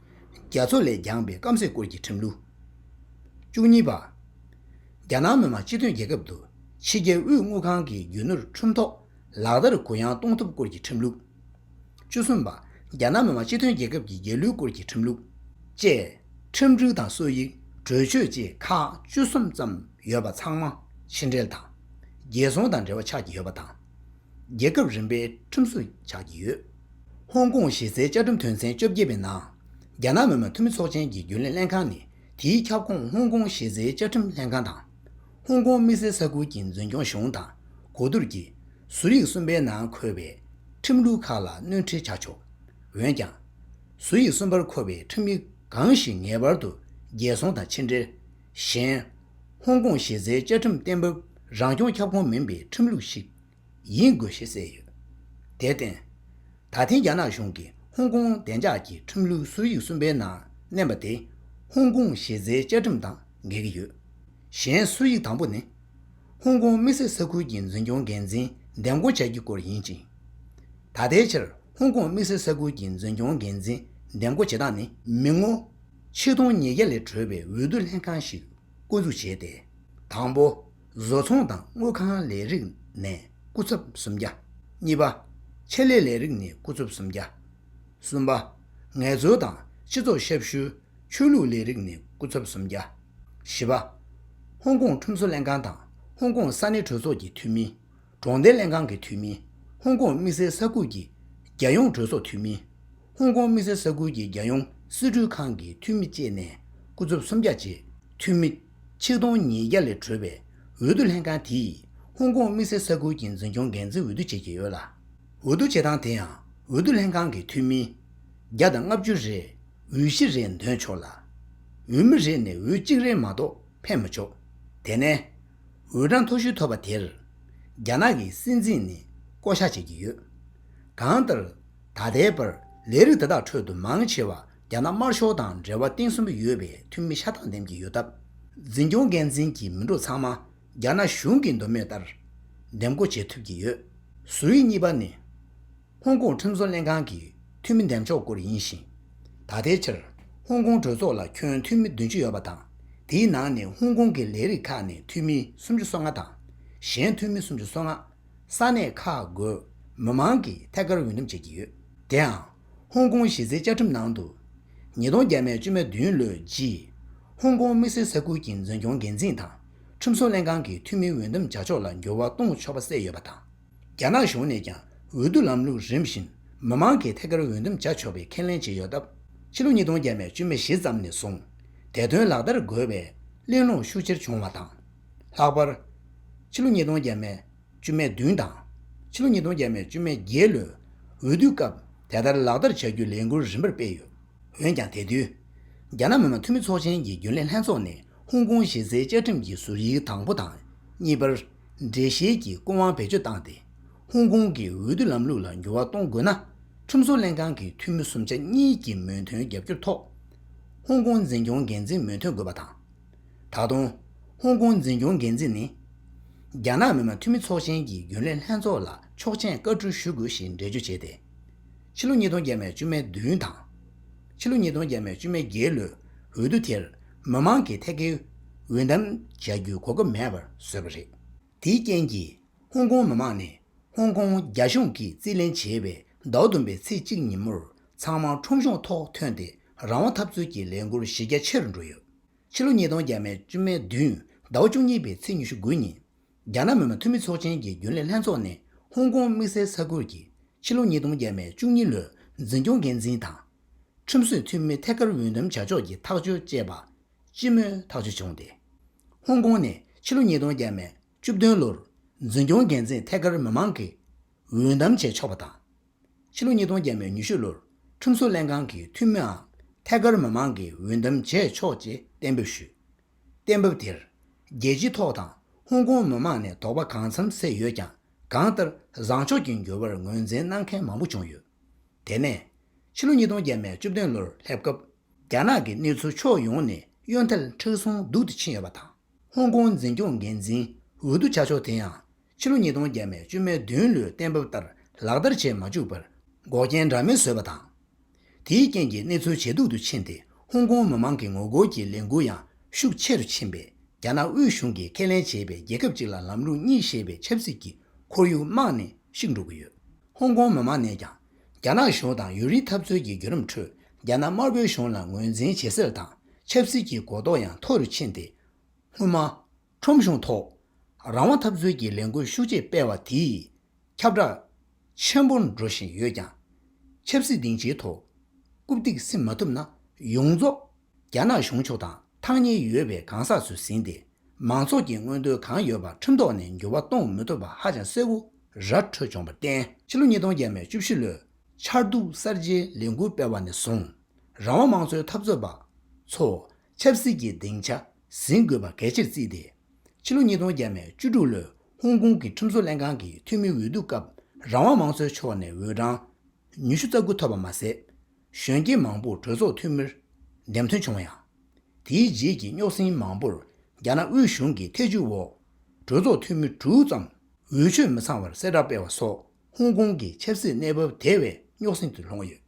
རྒྱ་མཚོ་ལས་འགྱངས་པའི་སྐམ་སའི་སྐོར་གྱི་ཁྲིམས་ལུགས། བཅུ་གཉིས་པ། རྒྱ་ནག་མི་དམངས་སྤྱི་མཐུན་རྒྱལ་ཁབ་ཏུ་ཕྱི་རྒྱལ་དབུས་དངུལ་ཁང་གིས་རྒྱུ་ནོར་ཁྲིམས་ཐོ་ལག་བསྟར་གུ་ཡངས་གཏོང་ཐབས་སྐོར་གྱི་ཁྲིམས་ལུགས། བཅུ་གསུམ་པ། རྒྱ་ནག་མི་དམངས་སྤྱི་མཐུན་རྒྱལ་ཁབ་ཀྱི་རྒྱལ་གླུའི་སྐོར་གྱི་ཁྲིམས་ལུགས། བཅས། ཁྲིམས་སྒྲིག་དང་སྲོལ་ཡིག་གྲོས་ཆོད་བཅས་ཁག་བཅུ་གསུམ་ཙམ་ཡོད་པ་ཚང་མ་ཕྱི་འབྲེལ་དང། རྒྱལ་སྲུང་དང་འབྲེལ་བ་ཆགས་ཀྱི་ཡོད་པ་དང། རྒྱལ་ཁབ་རིམ་པའི་ཁྲིམས་བཟོ་ཆགས་ཀྱི་ཡོད། ཧོང་ཀོང་གཞི་རྩའི་བཅའ་ཁྲིམས་དོན་ཚན་བཅོ་བརྒྱད་པའི་ནང། རྒྱ་ནག་མི་མང་འཐུས་མི་ཚོགས་ཆེན་གྱི་རྒྱུན་ལས་ལྷན་ཁང་ནི་དེའི་ཁྱབ་ཁོངས་ཧོང་ཀོང་གཞི་རྩའི་བཅའ་ཁྲིམས་ལྷན་ཁང་དང། ཧོང་ཀོང་དམིགས་བསལ་ས་ཁུལ་གྱི་འཛིན་སྐྱོང་གཞུང་དང་གོ་བསྡུར་གྱིས། ཟུར་ཡིག་གསུམ་པའི་ནང་འཁོད་པའི་ཁྲིམས་ལུགས་ཁག་ལ་སྣོན་འཕྲི་བྱ་ཆོག། འོན་ཀྱང། ཟུར་ཡིག་གསུམ་པར་འཁོད་པའི་ཁྲིམས་ཡིག་གང་ཞིག་ངེས་པར་དུ་རྒྱལ་སྲུང་དང་ཕྱི་འབྲེལ། གཞན། ཧོང་ཀོང་གཞི་རྩའི་བཅའ་ཁྲིམས་གཏན་འབེབས་རང་སྐྱོང་ཁྱབ་ཁོངས་མིན་པའི་ཁྲིམས་ལུགས་ཤིག་ཡིན་དགོས་ཞེས་གསལ་ཡོད། དེར་བརྟེན། ད་ཐེངས་རྒྱ་ནག་གཞུང་གིས་ཧོང་ཀོང་བདེ་འཇགས་ཀྱི་ཁྲིམས་ལུགས་སྲོལ་ཡིག་གསུམ་པའི་ནང་བསྣན་པ་དེ་ཧོང་ཀོང་གཞི་རྩའི་བཅའ་ཁྲིམས་དང་འགལ་གྱི་ཡོད། གཞན་སྲོལ་ཡིག་དང་པོ་ནི། ཧོང་ཀོང་དམིགས་བསལ་ས་ཁུལ་གྱི་འཛིན་སྐྱོང་འགན་འཛིན་འདེམས་བསྐོ་བྱ་རྒྱུའི་སྐོར་ཡིན་ཅིང། ད་ལྟའི་ཆར་ཧོང་ཀོང་དམིགས་བསལ་ས་ཁུལ་གྱི་འཛིན་སྐྱོང་འགན་འཛིན་འདེམས་བསྐོ་བྱེད་སྟངས་ནི། མི་ངོ། ཆིག་སྟོང་ཉིས་བརྒྱ་ལས་གྲོལ་བའི་འོས་བསྡུ་ལྷན་ཁང་ཞིག་བསྐོ་འཛུགས་བྱས་ཏེ། དང་པོ། བཟོ་ཚོང་དང་དངུལ་ཁང་ལས་རིགས་ནས་སྐུ་ཚབ་སུམ་བརྒྱ། གཉིས་པ། ཆེད་ལས་ལས་རིགས་ནས་སྐུ་ཚབ་སུམ་བརྒྱ། གསུམ་པ། ངལ་རྩོལ་དང་སྤྱི་ཚོགས་ཞབས་ཞུ། ཆོས་ལུགས་ལས་རིགས་ནས་སྐུ་ཚབ་སུམ་བརྒྱ། བཞི་པ། ཧོང་ཀོང་ཁྲོམ་བཟོ་ལྷན་ཁང་དང་ཧོང་ཀོང་ས་གནས་གྲོས་ཚོགས་ཀྱི་འཐུས་མི། གྲོང་སྡེ་ལྷན་ཁང་གི་འཐུས་མི། ཧོང་ཀོང་དམིགས་བསལ་ས་ཁུལ་གྱི་རྒྱལ་ཡོངས་གྲོས་ཚོགས་འཐུས་མི། ཧོང་ཀོང་དམིགས་བསལ་ས་ཁུལ་གྱི་རྒྱལ་ཡོངས་སྲིད་གྲོས་ཁང་གི་འཐུས་མི་བཅས་ནས་སྐུ་ཚབ་སུམ་བརྒྱ་ཆེད་འཐུས་མི། ཆིག་སྟོང་ཉིས་བརྒྱ་ལས་གྲོལ་བའི་འོས་བསྡུ་ལྷན་ཁང་དེས་ཧོང་ཀོང་དམིགས་བསལ་ས་ཁུལ་གྱི་འཛིན་སྐྱོང་འགན་འཛིན་འོས་བསྡུ་བྱེད་ཀྱི་ཡོད་ལ། འོས་བསྡུ་བྱེད་སྟངས་དེ་ཡང་འོས་བསྡུ་ལྷན་ཁང་གི་འཐུས་མི། བརྒྱ་དང་ལྔ་བཅུ་རེས་འོས་བཞི་རེ་འདོན་ཆོག་ལ། འོས་མི་རེ་ནས་འོས་གཅིག་རེ་མ་གཏོགས་འཕེན་མི་ཆོག་དེ་ནས། འོས་གྲངས་མཐོ་ཤོས་ཐོབ་པ་དེར་རྒྱ་ནག་གི་སྲིད་འཛིན་ནས་བསྐོ་བཞག་བྱེད་ཀྱི་ཡོད། གང་ལྟར། ད་ལྟའི་བར་ལས་རིགས་དེ་དག་ཁྲོད་དུ་མང་ཆེ་བ་རྒྱ་ནག་དམར་ཤོག་དང་འབྲེལ་བ་གཏིང་ཟབ་མོ་ཡོད་པའི་འཐུས་མི་ཤ་སྟག་འདེམས་ཀྱི་ཡོད་སྟབས། འཛིན་སྐྱོང་འགན་འཛིན་གྱི་མི་འགྲོ་ཚང་མ་རྒྱ་ནག་གཞུང་གི་འདོད་མོས་ལྟར་འདེམས་བསྐོ་བྱེད་ཐུབ་ཀྱི་ཡོད། ཟུར་ཡིག་གཉིས་པ་ནི། ཧོང་ཀོང་ཁྲིམས་བཟོ་ལྷན་ཁང་གི་འཐུས་མི་འདེམས་ཕྱོགས་སྐོར་ཡིན་ཞིང། ད་ལྟའི་ཆར་ཧོང་ཀོང་གྲོས་ཚོགས་ལ་ཁྱོན་འཐུས་མི་བདུན་ཅུ་ཡོད་པ་དང་དེའི་ནང་ནས་ཧོང་ཀོང་གི་ལས་རིགས་ཁག་ནས་འཐུས་མི་སུམ་ཅུ་སོ་ལྔ་དང། གཞན་འཐུས་མི་སུམ་ཅུ་སོ་ལྔ། ས་གནས་ཁག་དགོས་མི་མང་གིས་ཐད་ཀར་འོས་འདེམས་བྱེད་ཀྱི་ཡོད། དེའང་ཧོང་ཀོང་གཞི་རྩའི་བཅའ་ཁྲིམས་ནང་དུ། ཉིས་སྟོང་བརྒྱད་མའི་ཅུ་མེ་བདུན་ལོའི་རྗེས་ཧོང་ཀོང་དམིགས་བསལ་ས་ཁུལ་གྱི་འཛིན་སྐྱོང་འགན་འཛིན་དང་ཁྲིམས་བཟོ་ལྷན་ཁང་གི་འཐུས་མིའི་འོས་འདེམས་བྱ་ཕྱོགས་ལ་འགྱུར་བ་གཏོང་ཆོག་པ་གསལ་ཡོད་པ་དང། རྒྱ་ནག་གཞུང་ནས་ཀྱང་འོས་བསྡུ་ལམ་ལུགས་རིམ་བཞིན་མི་མང་གིས་ཐད་ཀར་འོས་འདེམས་བྱ་ཆོག་པའི་ཁས་ལེན་བྱས་ཡོད་སྟབས་ཕྱི་ལོ་ཉིས་སྟོང་བརྒྱད་པའི་བཅུ་མེ་བཞི་ཙམ་ནས་བཟུང་དེ་དོན་ལག་བསྟར་དགོས་པའི་གླེང་སློང་ཤུགས་ཆེར་བྱུང་བ་དང། ལྷག་པར། ཕྱི་ལོ་ཉིས་སྟོང་བརྒྱད་པའི་བཅུ་མེ་བདུན་དང། ཕྱི་ལོ་ཉིས་སྟོང་བརྒྱད་པའི་བཅུ་མེ་བརྒྱད་ལོའི་འོས་བསྡུའི་སྐབས་དེ་ལྟར་ལག་བསྟར་བྱ་རྒྱུའི་ལས་འགུལ་རིམ་པར་སྤེལ་ཡོད། འོན་ཀྱང་དེ་དུས། རྒྱ་ནག་མི་དམངས་འཐུས་མི་ཚོགས་ཆེན་གྱི་རྒྱུན་ལས་ལྷན་ཚོགས་ནས་ཧོང་ཀོང་གཞི་རྩའི་བཅའ་ཁྲིམས་ཀྱི་ཟུར་ཡིག་དང་པོ་དང་གཉིས་པར། འགྲེལ་བཤད་ཀྱི་སྐུ་དབང་བེད་སྤྱོད་བཏང་སྟེ། ཧོང་ཀོང་གི་འོས་བསྡུ་ལམ་ལུགས་ལ་འགྱུར་བ་གཏོང་དགོས་ན། ཁྲིམས་བཟོ་ལྷན་ཁང་གི་འཐུས་མི་སུམ་ཆ་གཉིས་ཀྱི་མོས་མཐུན་རྒྱབ་སྐྱོར་ཐོག་ཧོང་ཀོང་འཛིན་སྐྱོང་འགན་འཛིན་མོས་མཐུན་དགོས་པ་དང། ད་དུང། ཧོང་ཀོང་འཛིན་སྐྱོང་འགན་འཛིན་ནི། རྒྱ་ནག་མི་དམངས་འཐུས་མི་ཚོགས་ཆེན་གྱི་རྒྱུན་ལས་ལྷན་ཚོགས་ལ་ཆོག་མཆན་བཀའ་འཁྲོལ་ཞུ་དགོས་ཞེས་འགྲེལ་བརྗོད་བྱས་ཏེ། ཕྱི་ལོ་ཉིས་སྟོང་བརྒྱད་མའི་བཅུ་མའི་བདུན་དང། ཕྱི་ལོ་ཉིས་སྟོང་བརྒྱད་མའི་བཅུ་མའི་བརྒྱད་ལོའི་འོས་བསྡུ་དེར་མི་དམངས་ཀྱི་ཐད་ཀའི་འོས་འདམ་བྱ་རྒྱུའི་གོ་སྐབས་མེད་པར་བཟོས་པ་རེད། དེའི་རྐྱེན་གྱིས་ཧོང་ཀོང་མི་དམངས་ནས་ཧོང་ཀོང་རྒྱ་གཞུང་གིས་རྩིས་ལེན་བྱས་པའི་ཟླ་བ་བདུན་པའི་ཚེས་གཅིག་ཉིན་མོར་ཚང་མ་ཁྲོམ་གཞུང་ཐོག་ཐོན་ཏེ་རང་དབང་འཐབ་རྩོད་ཀྱི་ལས་འགུལ་གཞི་རྒྱ་ཆེ་རུ་འགྲོ་ཡོད། ཕྱི་ལོ་ཉིས་སྟོང་བརྒྱད་མའི་བཅུ་མའི་བདུན་ཟླ་བ་བཅུ་གཉིས་པའི་ཚེས་ཉི་ཤུ་དགུ་ཉིན་རྒྱ་ནག་མི་དམངས་འཐུས་མི་ཚོགས་ཆེན་གྱི་རྒྱུན་ལས་ལྷན་ཚོགས་ནས་ཧོང་ཀོང་དམིགས་བསལ་ས་ཁུལ་གྱི་ཕྱི་ལོ་ཉིས་སྟོང་བརྒྱད་པའི་བཅུ་གཉིས་ལོའི་འཛིན་སྐྱོང་འགན་འཛིན་དང། ཁྲིམས་བཟོའི་འཐུས་མི་ཐད་ཀར་འོས་འདེམས་བྱ་ཕྱོགས་ཀྱི་ཐག་གཅོད་ཅེས་པ་ལྕི་མོའི་ཐག་གཅོད་བྱུང་སྟེ། ཧོང་ཀོང་ནས་ཕྱི་ལོ་ཉིས་སྟོང་བརྒྱད་པའི་བཅུ་བདུན་ལོར་འཛིན་སྐྱོང་འགན་འཛིན་ཐད་ཀར་མི་མང་གིས་འོས་འདམ་བྱས་ཆོག་པ་དང། ཕྱི་ལོ་ཉིས་སྟོང་བརྒྱད་པའི་ཉི་ཤུ་ལོར་ཁྲིམས་བཟོ་ལྷན་ཁང་གི་འཐུས་མིའང་ཐད་ཀར་མི་མང་གིས་འོས་འདེམས་བྱས་ཆོག་ཅེས་གཏན་འབེབས་ཞུས། གཏན་ཕབ་དེར་རྒྱལ་སྤྱིའི་ཐོག་དང་ཧོང་ཀོང་མི་མང་ནས་དོགས་པ་གང་འཚམ་བསལ་ཡོད་ཀྱང་གང་ལྟར་བཟང་ཕྱོགས་ཀྱི་འགྱུར་བར་ངོས་འཛིན་གནང་མཁན་མང་པོ་བྱུང་ཡོད། དེ་ནས། ཕྱི་ལོ་ཉིས་སྟོང་བརྒྱད་མའི་བཅུ་བདུན་ལོར་སླེབས་སྐབས་རྒྱ་ནག་གི་གནས་ཚུལ་ཕྱོགས་ཡོངས་ནས་གཡོ་ཐལ་མཁྲེགས་བཟུང་སྡུག་ཏུ་ཕྱིན་ཡོད་པ་དང་ཧོང་ཀོང་འཛིན་སྐྱོང་འགན་འཛིན་འོས་བསྡུ་བྱ་ཕྱོགས་དེ་ཡང་ཕྱི་ལོ་ཉིས་སྟོང་བརྒྱད་མའི་བཅུ་མའི་བདུན་ལོའི་གཏན་ཕབ་ལྟར་ལག་བསྟར་བྱེད་མ་བཅུག་པར་འགོག་རྐྱེན་འདྲ་མིན་བཟོས་པ་དང། དེའི་རྐྱེན་གྱིས་གནས་ཚུལ་ཇེ་སྡུག་ཏུ་ཕྱིན་ཏེ་ཧོང་ཀོང་མི་མང་གི་ངོ་རྒོལ་གྱི་ལས་འགུལ་ཡང་ཤུགས་ཆེ་རུ་ཕྱིན་པས་རྒྱ་ནག་དབུས་གཞུང་གིས་ཁས་ལེན་བྱས་པའི་རྒྱལ་ཁབ་གཅིག་ལ་ལམ་ལུགས་གཉིས་ཞེས་པའི་ཆབ་སྲིད་ཀྱི་ཁོར་ཡུག་རྨང་ནས་བཤིག་འགྲོ་གི་ཡོད། ཧོང་ཀོང་མི་མང་ནས་ཀྱང་རྒྱ་ནག་གཞུང་དང་ཡུན་རིང་འཐབ་རྩོད་ཀྱི་བརྒྱུད་རིམ་ཁྲོད་རྒྱ་ནག་དམར་པོའི་གཞུང་ལ་ངོས་འཛིན་བྱེད་སེལ་དང་ཆབ་སྲིད་ཀྱི་གོ་རྟོགས་ཡང་མཐོ་རུ་ཕྱིན་ཏེ་སྔོན་མ་ཁྲོམ་གཞུང་ཐོག་རང་དབང་འཐབ་རྩོད་ཀྱི་ལས་འགུལ་ཤུགས་ཆེ་སྤེལ་བ་དེས་ཁྱབ་བསྒྲགས་ཆེན་པོ་འགྲོ་བཞིན་ཡོད་ཀྱང། ཆབ་སྲིད་སྡིངས་ཆའི་ཐོག་རྐུབ་སྟེགས་སིམ་མ་ཐུབ་ན་ཡོངས་རྫོགས་རྒྱ་ནག་གཞུང་ཕྱོགས་དང་ཐག་ཉེ་ཡོད་པའི་གང་ཟག་ཚོས་ཟིན་ཏེ་མང་ཚོགས་ཀྱི་མངོན་འདོད་གང་ཡོད་པ་ཁྲིམས་ཐོག་ནས་འགྱུར་བ་གཏོང་མི་ཐུབ་པ་ཧ་ཅང་གསལ་བོ་ར་འཕྲོད་བྱུང་བར་བརྟེན། ཕྱི་ལོ་ཉིས་སྟོང་བརྒྱད་མའི་བཅུ་བཞི་ལོའི་ཆར་གདུགས་གསར་བརྗེའི་ལས་འགུལ་སྤེལ་བ་ནས་བཟུང་རང་དབང་དམངས་གཙོའི་འཐབ་རྩོད་པ་ཚོས་ཆབ་སྲིད་ཀྱི་སྡིངས་ཆ་ཟིན་དགོས་པ་གལ་ཆེར་བརྩིས་ཏེ། ཕྱི་ལོ་ཉིས་སྟོང་བརྒྱད་མའི་བཅུ་དྲུག་ལོའི་ཧོང་ཀོང་གི་ཁྲིམས་བཟོ་ལྷན་ཁང་གི་འཐུས་མིའི་འོས་བསྡུ་སྐབས་རང་དབང་མང་གཙོའི་ཕྱོགས་ནས་འོས་གྲངས་ཉི་ཤུ་རྩ་དགུ་ཐོབ་པ་མ་ཟད། གཞོན་སྐྱེས་མང་པོར་གྲོས་ཚོགས་འཐུས་མིར་འདེམས་ཐོན་བྱུང་ཡང། དེའི་རྗེས་ཀྱི་རྙོག་ཟིང་མང་པོར་རྒྱ་ནག་དབུས་གཞུང་གི་ཐེ་ཇུས་འོག་གྲོས་ཚོགས་འཐུས་མི་དྲུག་ཙམ་འོས་ཆོས་མི་ཚང་བར་གསལ་བསྒྲགས་སྤེལ་བ་སོགས་ཧོང་ཀོང་གི་ཆབ་སྲིད་གནས་བབ་དེ་བས་རྙོག་ཟིང་དུ་ལྷུང་ཡོད།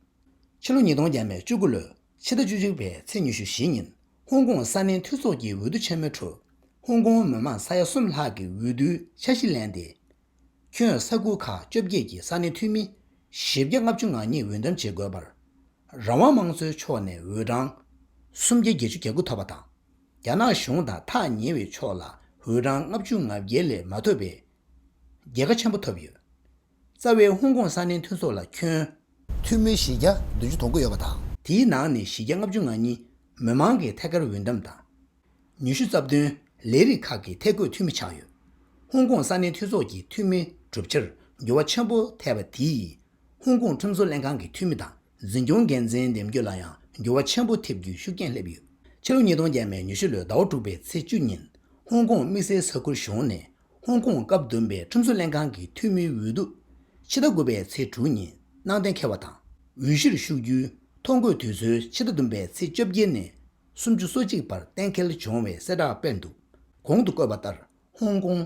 ཕྱི་ལོ་ཉིས་སྟོང་བརྒྱད་མའི་བཅུ་དགུ་ལོའི་ཕྱི་ཟླ་བཅུ་དྲུག་པའི་ཚེས་ཉི་ཤུ་བཞི་ཉིན་ཧོང་ཀོང་ས་གནས་འཐུས་ཚོགས་ཀྱི་འོས་བསྡུ་ཆེན་མོའི་ཁྲོད། ཧོང་ཀོང་མི་མང་ས་ཡ་གསུམ་ལྷག་གིས་འོས་བསྡུའི་འཆར་གཞི་ལེན་ཏེ། ཁྱོན་ས་ཁུལ་ཁག་བཅོ་བརྒྱད་ཀྱི་ས་གནས་འཐུས་མི་བཞི་བརྒྱ་ལྔ་བཅུ་ང་གཉིས་འོས་འདེམས་བྱེད་དགོས་པར། རང་དབང་དམངས་གཙོའི་ཕྱོགས་ནས་འོས་གྲངས་སུམ་བརྒྱ་བརྒྱད་ཅུ་གྱ་དགུ་ཐོབ་པ་དང། རྒྱ་ནག་གཞུང་དང་ཐག་ཉེ་བའི་ཕྱོགས་ལ་འོས་གྲངས་ལྔ་བཅུ་ང་བརྒྱད་ལས་མ་ཐོབ་པའི་རྒྱལ་ཁ་ཆེན་པོ་ཐོབ་ཡོད། རྩ་བའི་ཧོང་ཀོང་ས་གནས་མཐུན་ཚོགས་ལ་ཁྱོན། ཐུན་མོན་གཞི་རྒྱ་བདུན་ཅུ་དོང་དགུ་ཡོད་པ་དང། དེའི་ནང་ནས་གཞི་རྒྱ་ལྔ་བཅུ་ང་གཉིས་མི་མང་གི་ཐད་ཀར་འོས་འདམས་དང། ཉི་ཤུ་རྩ་བདུན་ལས་རིགས་ཁག་གི་ཐད་བསྐོས་འཐུས་མི་ཆགས་ཡོད། ཧོང་ཀོང་ས་གནས་མཐུན་ཚོགས་ཀྱི་འཐུས་མི་གྲུབ་ཆར་འགྱུར་བ་ཆེན་པོ་ཐེབས་པ་དེས་ཧོང་ཀོང་ཁྲིམས་བཟོ་ལྷན་ཁང་གི་འཐུས་མི་དང་འཛིན་སྐྱོང་འགན་འཛིན་འདེམས་རྒྱུ་ལ་ཡང་འགྱུར་བ་ཆེན་པོ་ཐེབས་རྒྱུའི་ཤུགས་རྐྱེན་སླེབས་ཡོད། ཕྱི་ལོ་ཉིས་སྟོང་བརྒྱད་མའི་ཉི་ཤུ་ལོའི་ཟླ་བ་དྲུག་པའི་ཚེས་བཅུ་ཉིན་ཧོང་ཀོང་དམིགས་བསལ་ས་ཁུལ་གཞུང་ནས་ཧོང་ཀོང་སྐབས་བདུན་པའི་ཁྲིམས་བཟོ་ལྷན་ཁང་གི་འཐུས་མིའི་འོས་བསྡུ། ཕྱི་ཟླ་དགུ་པའི་ཚེས་དྲུག་ཉིན་གནང་གཏན་འཁེལ་བ་དང་འོས་གཞིར་ཞུགས་རྒྱུའི་ཐོ་འགོད་དུས་ཚོད་ཕྱི་ཟླ་བདུན་པའི་ཚེས་བཅོ་བརྒྱད་ནས་སུམ་ཅུ་སོ་གཅིག་བར་གཏན་འཁེལ་བྱུང་བའི་གསལ་བསྒྲགས་སྤེལ་འདུག་གོང་དུ་བཀོད་པ་ལྟར་ཧོང་ཀོང།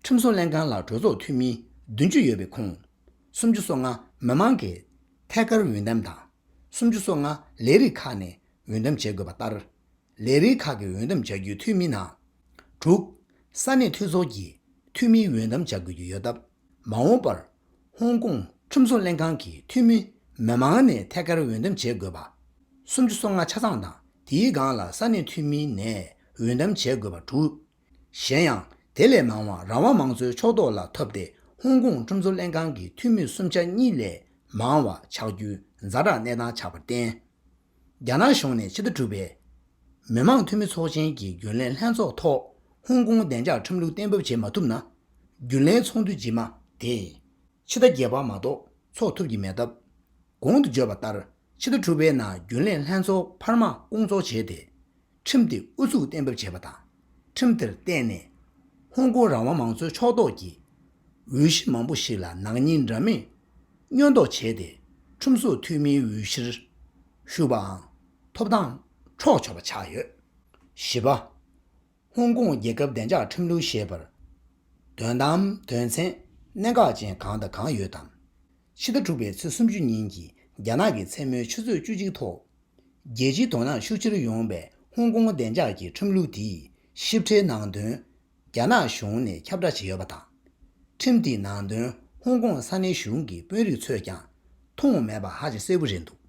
ཁྲིམས་བཟོ་ལྷན་ཁང་ལ་གྲོས་ཚོགས་འཐུས་མི་བདུན་ཅུ་ཡོད་པའི་ཁོངས། སུམ་ཅུ་སོ་ལྔ་མི་མང་གི་ཐད་ཀར་འོས་འདེམས་དང། སུམ་ཅུ་སོ་ལྔ་ལས་རིགས་ཁག་ནས་འོས་འདེམས་བྱེད་དགོས་པ་ལྟར། ལས་རིགས་ཁག་གི་འོས་འདམ་བྱ་རྒྱུའི་འཐུས་མི་ནང། དྲུག། ས་གནས་འཐུས་ཚོགས་ཀྱི་འཐུས་མིའི་འོས་འདམ་བྱ་དགོས་ཀྱི་ཡོད་སྟབས། མ་འོངས་པར། ཧོང་ཀོང་ཁྲིམས་བཟོ་ལྷན་ཁང་གི་འཐུས་མི་མི་མང་ནས་ཐད་ཀར་འོས་འདམ་བྱེད་དགོས་པ། སུམ་ཅུ་སོ་ལྔ་ཆ་ཚང་དང་དེའི་སྒང་ལ་ས་གནས་འཐུས་མི་ནས་འོས་འདམ་བྱེད་དགོས་པ་དྲུག། གཞན་ཡང་དེ་ལས་མང་བ་རང་དབང་མང་གཙོའི་ཕྱོགས་གཏོགས་ལ་ཐོབ་སྟེ་ཧོང་ཀོང་ཁྲིམས་བཟོ་ལྷན་ཁང་གི་འཐུས་མི་སུམ་ཆ་གཉིས་ལས་མང་བ་ཆགས་རྒྱུའི་མཛའ་གྲགས་གནས་སྟངས་ཆགས་པར་བརྟེན། རྒྱ་ནག་གཞུང་ནས་ཕྱི་ཟླ་དྲུག་པའི། མི་མང་འཐུས་མི་ཚོགས་ཆེན་གྱི་རྒྱུན་ལས་ལྷན་ཚོགས་ཐོག་ཧོང་ཀོང་བདེ་འཇགས་ཁྲིམས་ལུགས་གཏན་འབེབས་བྱེད་མ་ཐུབ་ན། རྒྱུན་ལས་ཚོགས་འདུ་རྗེས་མ་དེ། ཕྱི་ཟླ་བརྒྱད་པ་མ་གཏོགས་ཚོགས་ཐུབ་ཀྱི་མེད་སྟབས། གོང་དུ་བརྗོད་པ་ལྟར་ཕྱི་ཟླ་དྲུག་པའི་ནང་རྒྱུན་ལས་ལྷན་ཚོགས་འཕར་མ་སྐོང་ཚོགས་བྱས་ཏེ། ཁྲིམས་དེ་ཨུ་ཚུགས་གཏན་འབེབས་བྱས་པ་དང་ཁྲིམས་དེར་བརྟེན་ནས་ཧོང་ཀོང་རང་དབང་མང་གཙོའི་ཕྱོགས་གཏོགས་ཀྱི་འོས་གཞི་མང་པོ་ཞིག་ལ་ནག་ཉེས་འདྲ་མིན་སྙོན་འདོགས་བྱས་ཏེ་ཁྲིམས་བཟོ་འཐུས་མིའི་འོས་གཞིར་ཞུགས་པའང་ཐོབ་ཐང་འཕྲོག་ཆོག་པ་ཆགས་ཡོད། བཞི་པ། ཧོང་ཀོང་རྒྱལ་ཁབ་བདེ་འཇགས་ཁྲིམས་ལུགས་ཞེས་པར་དོན་དམ་དོན་ཚན་གནད་འགག་ཅན་གང་དང་གང་ཡོད་དམ། ཕྱི་ཟླ་དྲུག་པའི་ཚེས་སུམ་ཅུ་ཉིན་གྱི་རྒྱ་ནག་གི་མཚན་མོའི་ཆུ་ཚོད་བཅུ་གཅིག་ཐོག། རྒྱལ་སྤྱིའི་དོ་སྣང་ཤུགས་ཆེར་ཡོང་བའི་ཧོང་ཀོང་བདེ་འཇགས་ཀྱི་ཁྲིམས་ལུགས་དེའི་ཞིབ་ཕྲའི་ནང་དོན། རྒྱ་ནག་གཞུང་ནས་ཁྱབ་བསྒྲགས་བྱས་ཡོད་པ་དང། ཁྲིམས་དེའི་ནང་དོན་ཧོང་ཀོང་ས་གནས་གཞུང་གི་དཔོན་རིགས་ཚོས་ཀྱང་མཐོང་མེད་པ་ཧ་ཅང་གསལ་བོ་རེད་འདུག་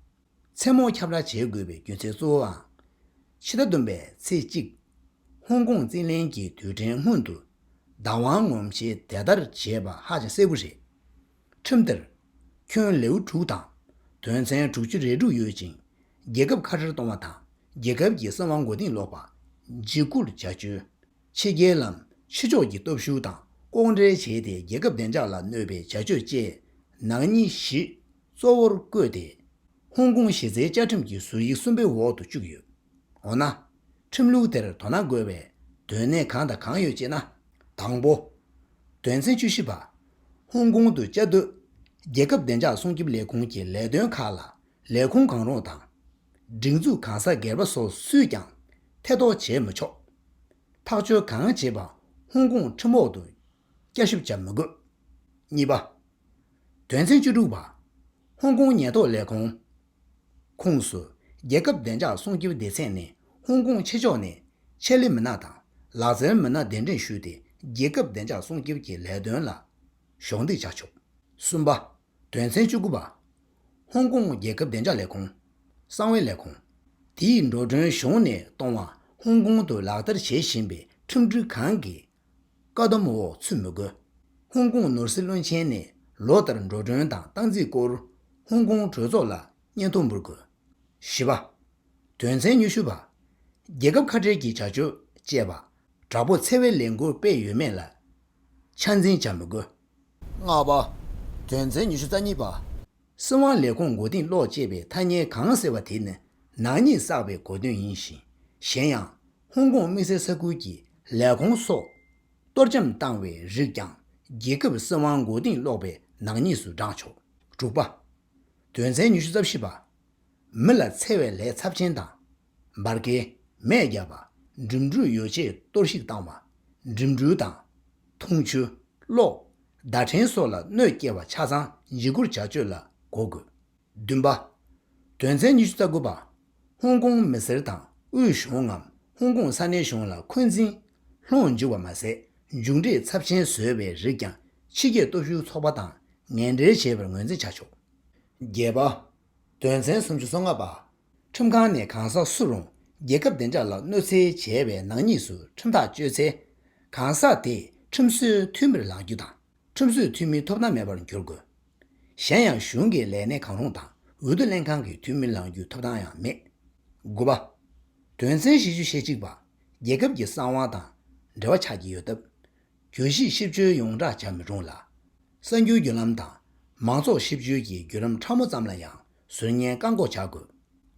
མཚན་མོ་ཁྱབ་བསྒྲགས་བྱེད་དགོས་པའི་རྒྱུ་མཚན་གཙོ་བོའང། ཕྱི་ཟླ་བདུན་པའི་ཚེས་གཅིག། ཧོང་ཀོང་རྩིས་ལེན་གྱི་དུས་དྲན་སྔོན་དུ། བདག་དབང་ངོམ་ཆེད་དེ་ལྟར་བྱས་པ་ཧ་ཅང་གསལ་བོ་རེད། ཁྲིམས་དེར། ཁྱོན་ལེའུ་དྲུག་དང། དོན་ཚན་དྲུག་ཅུ་རེ་དྲུག་ཡོད་ཅིང། རྒྱལ་ཁབ་ཁ་བྲལ་གཏོང་བ་དང་རྒྱལ་ཁབ་ཀྱི་སྲིད་དབང་མགོ་རྟིང་སློག་པ། འཇིགས་སྐུལ་བྱ་སྤྱོད། ཕྱི་རྒྱལ་ལམ་ཕྱི་ཕྱོགས་ཀྱི་སྟོབས་ཤུགས་དང་ལྐོག་འབྲེལ་བྱས་ཏེ་རྒྱལ་ཁབ་བདེ་འཇགས་ལ་གནོད་པའི་བྱ་སྤྱོད་བཅས་ནང་གཉིས་བཞི། གཙོ་བོར་བཀོད་དེ། ཧོང་ཀོང་གཞི་རྩའི་བཅའ་ཁྲིམས་ཀྱི་ཟུར་ཡིག་གསུམ་པའི་འོག་ཏུ་བཅུག་ཡོད། འོ་ན། ཁྲིམས་ལུགས་དེར་དོ་སྣང་དགོས་པའི་དོན་གནད་གང་དང་གང་ཡོད་ཅེ་ན། དང་པོ། དོན་ཚན་བཅུ་བཞི་པ། ཧོང་ཀོང་དུ་བཅའ་སྡོད་རྒྱལ་ཁབ་བདེ་འཇགས་སྲུང་སྐྱོབ་ལས་ཁུངས་ཀྱི་ལས་དོན་ཁག་ལ་ལས་ཁུངས་གང་རུང་དང། སྒྲིག་འཛུགས་གང་ཟག་སྒེར་པ་སོགས་སུས་ཀྱང་ཐེ་གཏོགས་བྱེད་མི་ཆོག། ཐག་གཅོད་གང་བྱེད་པ་ཧོང་ཀོང་ཁྲིམས་འོག་ཏུ་བསྐྱར་ཞིབ་བྱ་མི་དགོས། གཉིས་པ། དོན་ཚན་བཅུ་དྲུག་པ། ཧོང་ཀོང་ཉེན་རྟོག་ལས་ཁུངས། ཁུངས་སུ། རྒྱལ་ཁབ་བདེ་འཇགས་སྲུང་སྐྱོབ་སྡེ་ཚན་ནས་ཧོང་ཀོང་ཕྱི་ཕྱོགས་ནས་ཆེད་ལས་མི་སྣ་དང་ལག་རྩལ་མི་སྣ་གདན་འདྲེན་ཞུས་ཏེ་རྒྱལ་ཁབ་བདེ་འཇགས་སྲུང་སྐྱོབ་ཀྱི་ལས་དོན་ལ་གཞོགས་འདེགས་བྱ་ཆོག། གསུམ་པ། དོན་ཚན་བཅུ་དགུ་པ། ཧོང་ཀོང་རྒྱལ་ཁབ་བདེ་འཇགས་ལས་ཁུངས། གསང་བའི་ལས་ཁུངས། དེས་འགྲོ་གྲོན་གཞུང་ནས་གཏོང་བ་ཧོང་ཀོང་དུ་ལག་བསྟར་བྱེད་བཞིན་པའི་ཁྲིམས་སྒྲིག་གང་གི་བཀའ་སྡོམ་འོག་ཚུད་མི་དགོས། ཧོང་ཀོང་ནོར་སྲིད་བློན་ཆེན་ནས་ལོ་ལྟར་འགྲོ་གྲོན་དང་སྟངས་རྩིས་སྐོར་ཧོང་ཀོང་གྲོས་ཚོགས་ལ་སྙན་ཐོ་འབུལ་དགོས། བཞི་བ། དོན་ཚན་ཉུ་ཤུ་པ། རྒྱལ་ཁབ་ཁ་བྲལ་གྱི་བྱ་སྤྱོད་སྤྱད་པ། དྲག་པོ་འཚེ་བའི་ལས་འགུལ་སྤེལ་ཡོད་མེད་ལ་ཆ་འཛིན་བྱ་མི་དགོས། ལྔ་བ། དོན་ཚན་ཉུ་ཤུ་རྩ་གཉིས་པ། སྲིད་དབང་ལས་ཁུངས་མགོ་རྟིང་སློག་ཅེས་པའི་ཐ་སྙད་གང་ཟེར་བ་དེ་ནི་ནག་ཉེས་བསགས་པའི་གོ་དོན་ཡིན་ཞིང། གཞན་ཡང། ཧོང་ཀོང་དམིགས་བསལ་ས་ཁུལ་གྱི་ལས་ཁུངས་སོགས། གཏོར་བཅོམ་བཏང་བའི་རིགས་ཀྱང་རྒྱལ་ཁབ་སྲིད་དབང་མགོ་རྟིང་སློག་པའི་ནག་ཉེས་སུ་བགྲངས་ཆོག་དྲུག་པ། དོན་ཚན་ཉི་ཤུ་རྩ་བཞི་པ། མི་ལ་འཚེ་བའི་ལས་ཚབས་ཆེན་དང། འབར་གས་མས་བརྒྱབ་པ། འགྲིམ་འགྲུལ་ཡོ་བྱད་གཏོར་བཤིག་བཏང་བ། འགྲིམ་འགྲུལ་དང། འཐུང་ཆུ། གློག། བརྡ་འཕྲིན་སོགས་ལ་གནོད་སྐྱེལ་བ་ཆ་ཚང་འཇིགས་སྐུལ་བྱ་སྤྱོད་ལ་གོ་དགོས། བདུན་པ། དོན་ཚན་ཉི་ཤུ་རྩ་དགུ་པ། ཧོང་ཀོང་མི་སེར་དང་དབུས་གཞུང་ངམ་ཧོང་ཀོང་ས་གནས་གཞུང་ལ་འཁོན་འཛིན། ལྷོངས་འཇུག་པ་མ་ཟད་མཇུག་འབྲས་ཚབས་ཆེན་བཟོས་པའི་རིགས་ཀྱང་ཕྱི་རྒྱལ་སྟོབས་ཤུགས་ཚོགས་པ་དང་ངན་འབྲེལ་བྱས་པར་ངོས་འཛིན་བྱ་ཆོག། བརྒྱད་པ། དོན་ཚན་སུམ་ཅུ་སོ་ལྔ་པ། ཁྲིམས་ཁང་ནས་གང་ཟག་སུ་རུང་རྒྱལ་ཁབ་བདེ་འཇགས་ལ་གནོད་འཚེ་བྱས་བའི་ནག་ཉེས་སུ་ཁྲིམས་ཐག་གཅོད་ཚེ། གང་ཟག་དེས་ཁྲིམས་སྲོལ་མཐུན་པར་ལག་འགྱུར་དང་ཁྲིམས་སྲོལ་མཐུན་མིན་ཐོབ་ཐང་མེད་པར་འགྱུར་དགོས། གཞན་ཡང་གཞུང་གི་ལས་སྣེ་གང་རུང་དང་འོས་བསྡུ་ལྷན་ཁང་གི་འཐུས་མི་ལང་རྒྱུའི་ཐོབ་ཐང་ཡང་མེད། དགུ་པ། དོན་ཚན་བཞི་ཅུ་ཞེ་གཅིག་པ། རྒྱལ་ཁབ་ཀྱི་གསང་བ་དང་འབྲེལ་བ་ཆགས་ཀྱི་ཡོད་སྟབས། གྱོད་གཞི་གཤིབ་བཅོལ་ཡོངས་བསྒྲགས་བྱ་མི་རུང་ལ། གསར་འགྱུར་བརྒྱུད་ལམ་དང་མང་ཚོགས་གཤིབ་བཅོལ་གྱི་བརྒྱུད་ལམ་ཕྲ་མོ་ཙམ་ལ་ཡང་ཟུར་ཉན་བཀག་འགོག་བྱ་དགོས།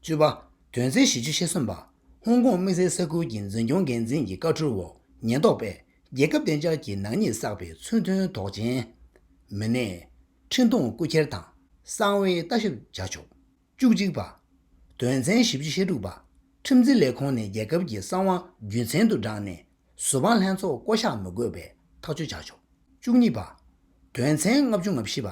བཅུ་པ། དོན་ཚན་བཞི་བཅུ་ཤེས་གསུམ་པ། ཧོང་ཀོང་དམིགས་བསལ་ས་ཁུལ་གྱི་འཛིན་སྐྱོང་འགན་འཛིན་གྱི་བཀའ་ཁྲོལ་འོག་ཉེན་རྟོག་པས་རྒྱལ་ཁབ་བདེ་འཇགས་ཀྱི་ནག་ཉེས་བསགས་པའི་མཚོན་དོན་དོགས་ཅན། མི་སྣའི། འཕྲིན་གཏོང་རྐུ་འཁྱེར་དང་གསང་བའི་ལྟ་ཞིབ་བྱ་ཆོག། བཅུ་གཅིག་པ། དོན་ཚན་བཞི་བཅུ་ཞེ་དྲུག་པ། ཁྲིམས་འཛིན་ལས་ཁུངས་ནས་རྒྱལ་ཁབ་ཀྱི་གསང་བ་རྒྱུན་མཚན་དུ་བསྒྲགས་ནས་གཟུ་དཔང་ལྷན་ཚོགས་བསྐོ་གཞག་མི་དགོས་པའི་ཐག་གཅོད་བྱ་ཆོག་བཅུ་གཉིས་པ། དོན་ཚན་ལྔ་བཅུ་ང་བཞི་པ།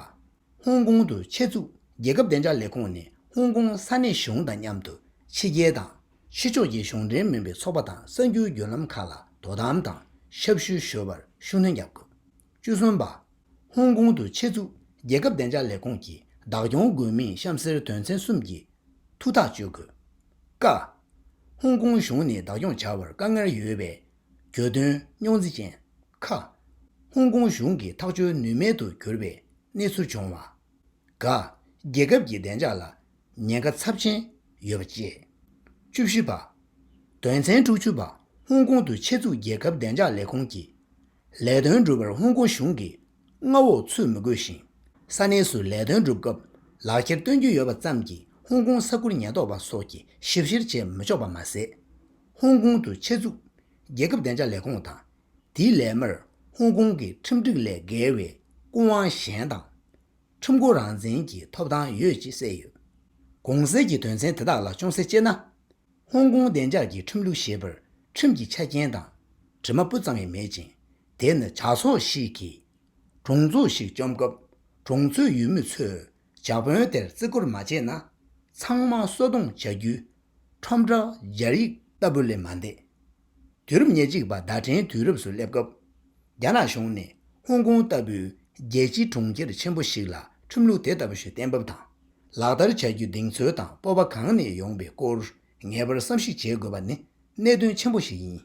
ཧོང་ཀོང་དུ་ཆེད་བཙུགས་རྒྱལ་ཁབ་བདེ་འཇགས་ལས་ཁུངས་ནས་ཧོང་ཀོང་ས་གནས་གཞུང་དང་མཉམ་དུ་ཕྱི་རྒྱལ་དང་ཕྱི་ཕྱོགས་ཀྱི་གཞུང་འབྲེལ་མིན་པའི་ཚོགས་པ་དང་གསར་འགྱུར་བརྒྱུད་ལམ་ཁག་ལ་དོ་དམ་དང་ཞབས་ཞུ་ཞུ་བར་ཤུགས་སྣོན་རྒྱག་དགོས་བཅུ་གསུམ་པ། ཧོང་ཀོང་དུ་ཆེད་བཙུགས་རྒྱལ་ཁབ་བདེ་འཇགས་ལས་ཁུངས་ཀྱི་བདག་སྐྱོང་དགོས་མིན་གཤམ་གསལ་དོན་ཚན་གསུམ་གྱི་ཐུགས་ཐག་གཅོད་དགོས། ཀ། ཧོང་ཀོང་གཞུང་ནས་བདག་སྐྱོང་བྱ་བར་དཀའ་ངལ་ཡོད་པའི་གྱོད་དོན་རྙོག་འཛིང་ཅན། ཁ། ཧོང་ཀོང་གཞུང་གི་ཐག་གཅོད་ནུས་མེད་དུ་གྱུར་པའི་གནས་ཚུལ་བྱུང་བ། ག། རྒྱལ་ཁབ་ཀྱི་བདེ་འཇགས་ལ་ཉེན་ཁ་ཚབས་ཆེན་ཡོད་པ་བཅས། བཅུ་བཞི་པ། དོན་ཚན་དྲུག་ཅུ་པ་ཧོང་ཀོང་དུ་ཆེད་བཙུགས་རྒྱལ་ཁབ་བདེ་འཇགས་ལས་ཁུངས་ཀྱི་ལས་དོན་སྒྲུབ་པར་ཧོང་ཀོང་གཞུང་གིས་མངའ་འོག་ཚུད་མི་དགོས་ཤིང། ས་གནས་སུ་ལས་དོན་སྒྲུབ་སྐབས་ལག་ཁྱེར་སྟོན་རྒྱུ་ཡོད་པ་ཙམ་གྱིས་ཧོང་ཀོང་ས་ཁུལ་ཉེན་རྟོག་པ་སོགས་ཀྱིས་ཞིབ་བཤེར་བྱེད་མི་ཆོག་པ་མ་ཟད། ཧོང་ཀོང་དུ་ཆེད་བཙུགས་རྒྱལ་ཁབ་བདེ་འཇགས་ལས་ཁུངས་དང་དེའི་ལས་མིར་ཧོང་ཀོང་གི་ཁྲིམས་སྒྲིག་ལས་འགལ་བའི་སྐུ་དབང་གཞན་དང། ཁྲོམ་སྐོར་རང་བཙན་གྱི་ཐོབ་ཐང་ཡོད་ཅེས་གསལ་ཡོད། གོང་གསལ་གྱི་དོན་ཚན་དེ་དག་ལ་ཅུང་ཟད་དཔྱད་ན། ཧོང་ཀོང་བདེ་འཇགས་ཀྱི་ཁྲིམས་ལུགས་ཞེས་པར་ཁྲིམས་ཀྱི་ཆ་རྐྱེན་དང་དྲི་མ་སྤུ་ཙམ་ཡང་མེད་ཅིང། དེ་ནི་ཇག་ཚོགས་ཤིག་གིས་གྲོང་ཚོ་ཞིག་བཅོམ་སྐབས་གྲོང་ཚོའི་ཡུལ་མི་ཚོས་ཇག་དཔོན་དེར་བརྩི་བཀུར་མ་བྱས་ན་ཚང་མ་གསོད་རྡུང་བྱ་རྒྱུའི་ཁྲོམ་བསྒྲགས་སྦྱར་ཡིག་ལྟ་བུ་ལས་མ་འདས། དུས་རབས་ཉེར་གཅིག་པ་ཟླ་བྲལ་དུས་རབས་སུ་སླེབས་སྐབས། རྒྱ་ནག་གཞུང་ནས་ཧོང་ཀོང་ལྟ་བུའི་རྒྱལ་སྤྱིའི་གྲོང་ཁྱེར་ཆེན་པོ་ཞིག་ལ་ཁྲིམས་ལུགས་དེ་ལྟ་བུ་ཞིག་གཏན་འབེབས་དང་ལག་བསྟར་བྱ་རྒྱུའི་གདེང་ཚོད་དང་སྤོབས་པ་གང་ནས་ཡོང་པའི་སྐོར་ངེས་པར་བསམ་གཞིག་བྱེད་དགོས་པ་ནི་གནད་དོན་ཆེན་པོ་ཞིག་ཡིན།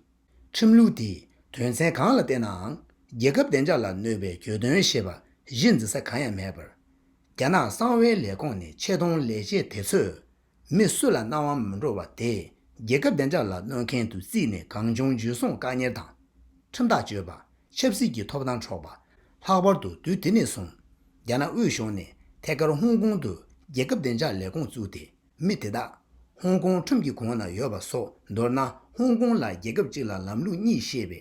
ཁྲིམས་ལུགས་དེས་དོན་ཚན་གང་ལ་བལྟས་ནའང་རྒྱལ་ཁབ་བདེ་འཇགས་ལ་གནོད་པའི་གྱོད་དོན་ཞེས་པ་གཞི་འཛིན་ས་གང་ཡང་མེད་པར། རྒྱ་ནག་གསང་བའི་ལས་ཁོངས་ནས་ཆེ་མཐོང་ལས་བྱེད་དེ་ཚོས་མི་སུ་ལ་སྣང་བ་མི་འགྲོ་བ་དེས་རྒྱལ་ཁབ་བདེ་འཇགས་ལ་གནོད་མཁན་དུ་བརྩིས་ནས་གང་བྱུང་འཇུ་བཟུང་བཀག་གཉེར་དང། ཁྲིམས་ཐག་གཅོད་པ། ཆབ་སྲིད་ཀྱི་ཐོབ་ཐང་འཕྲོག་པ། ལྷག་པར་དུ་དུས་དེ་ནས་བཟུང། རྒྱ་ནག་དབུས་གཞུང་ནས་ཐད་ཀར་ཧོང་ཀོང་དུ་རྒྱལ་ཁབ་བདེ་འཇགས་ལས་ཁུངས་བཙུགས་ཏེ་མི་དེ་དག་ཧོང་ཀོང་ཁྲིམས་ཀྱི་གོང་ན་ཡོད་པ་སོགས་མདོར་ན་ཧོང་ཀོང་ལ་རྒྱལ་ཁབ་གཅིག་ལ་ལམ་ལུགས་གཉིས་ཞེས་པའི་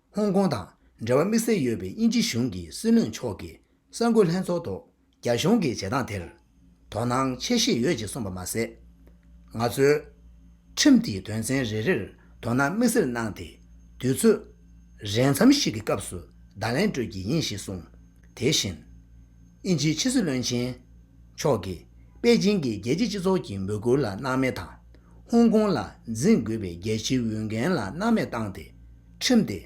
ཧོང་ཀོང་དང་འབྲེལ་བ་དམིགས་བསལ་ཡོད་པའི་དབྱིན་ཇི་གཞུང་གི་སྲིད་བློན་མཆོག་གིས་གསར་འགོད་ལྷན་ཚོགས་ཐོག་རྒྱ་གཞུང་གི་བྱེད་སྟངས་དེར། དོ་སྣང་ཆེ་བཞེས་ཡོད་ཅེས་གསུངས་པ་མ་ཟད། ང་ཚོས། ཁྲིམས་དེའི་དོན་ཚན་རེ་རེར་དོ་སྣང་དམིགས་བསལ་གནང་སྟེ། དུས་ཚོད། རན་མཚམས་ཤིག་གི་སྐབས་སུ་བརྡ་ལན་སྤྲོད་ཀྱི་ཡིན་ཞེས་གསུངས། དེ་བཞིན། དབྱིན་ཇིའི་ཕྱི་སྲིད་བློན་ཆེན། མཆོག་གིས་པེ་ཅིང་གིས་རྒྱལ་སྤྱིའི་སྤྱི་ཚོགས་ཀྱི་འབོད་སྐུལ་ལ་སྣང་མེད་དང། ཧོང་ཀོང་ལ་འཛིན་དགོས་པའི་རྒྱལ་སྤྱིའི་འོས་འགན་ལ་སྣང་མེད་བཏང་སྟེ། ཁྲིམས་ཏེ།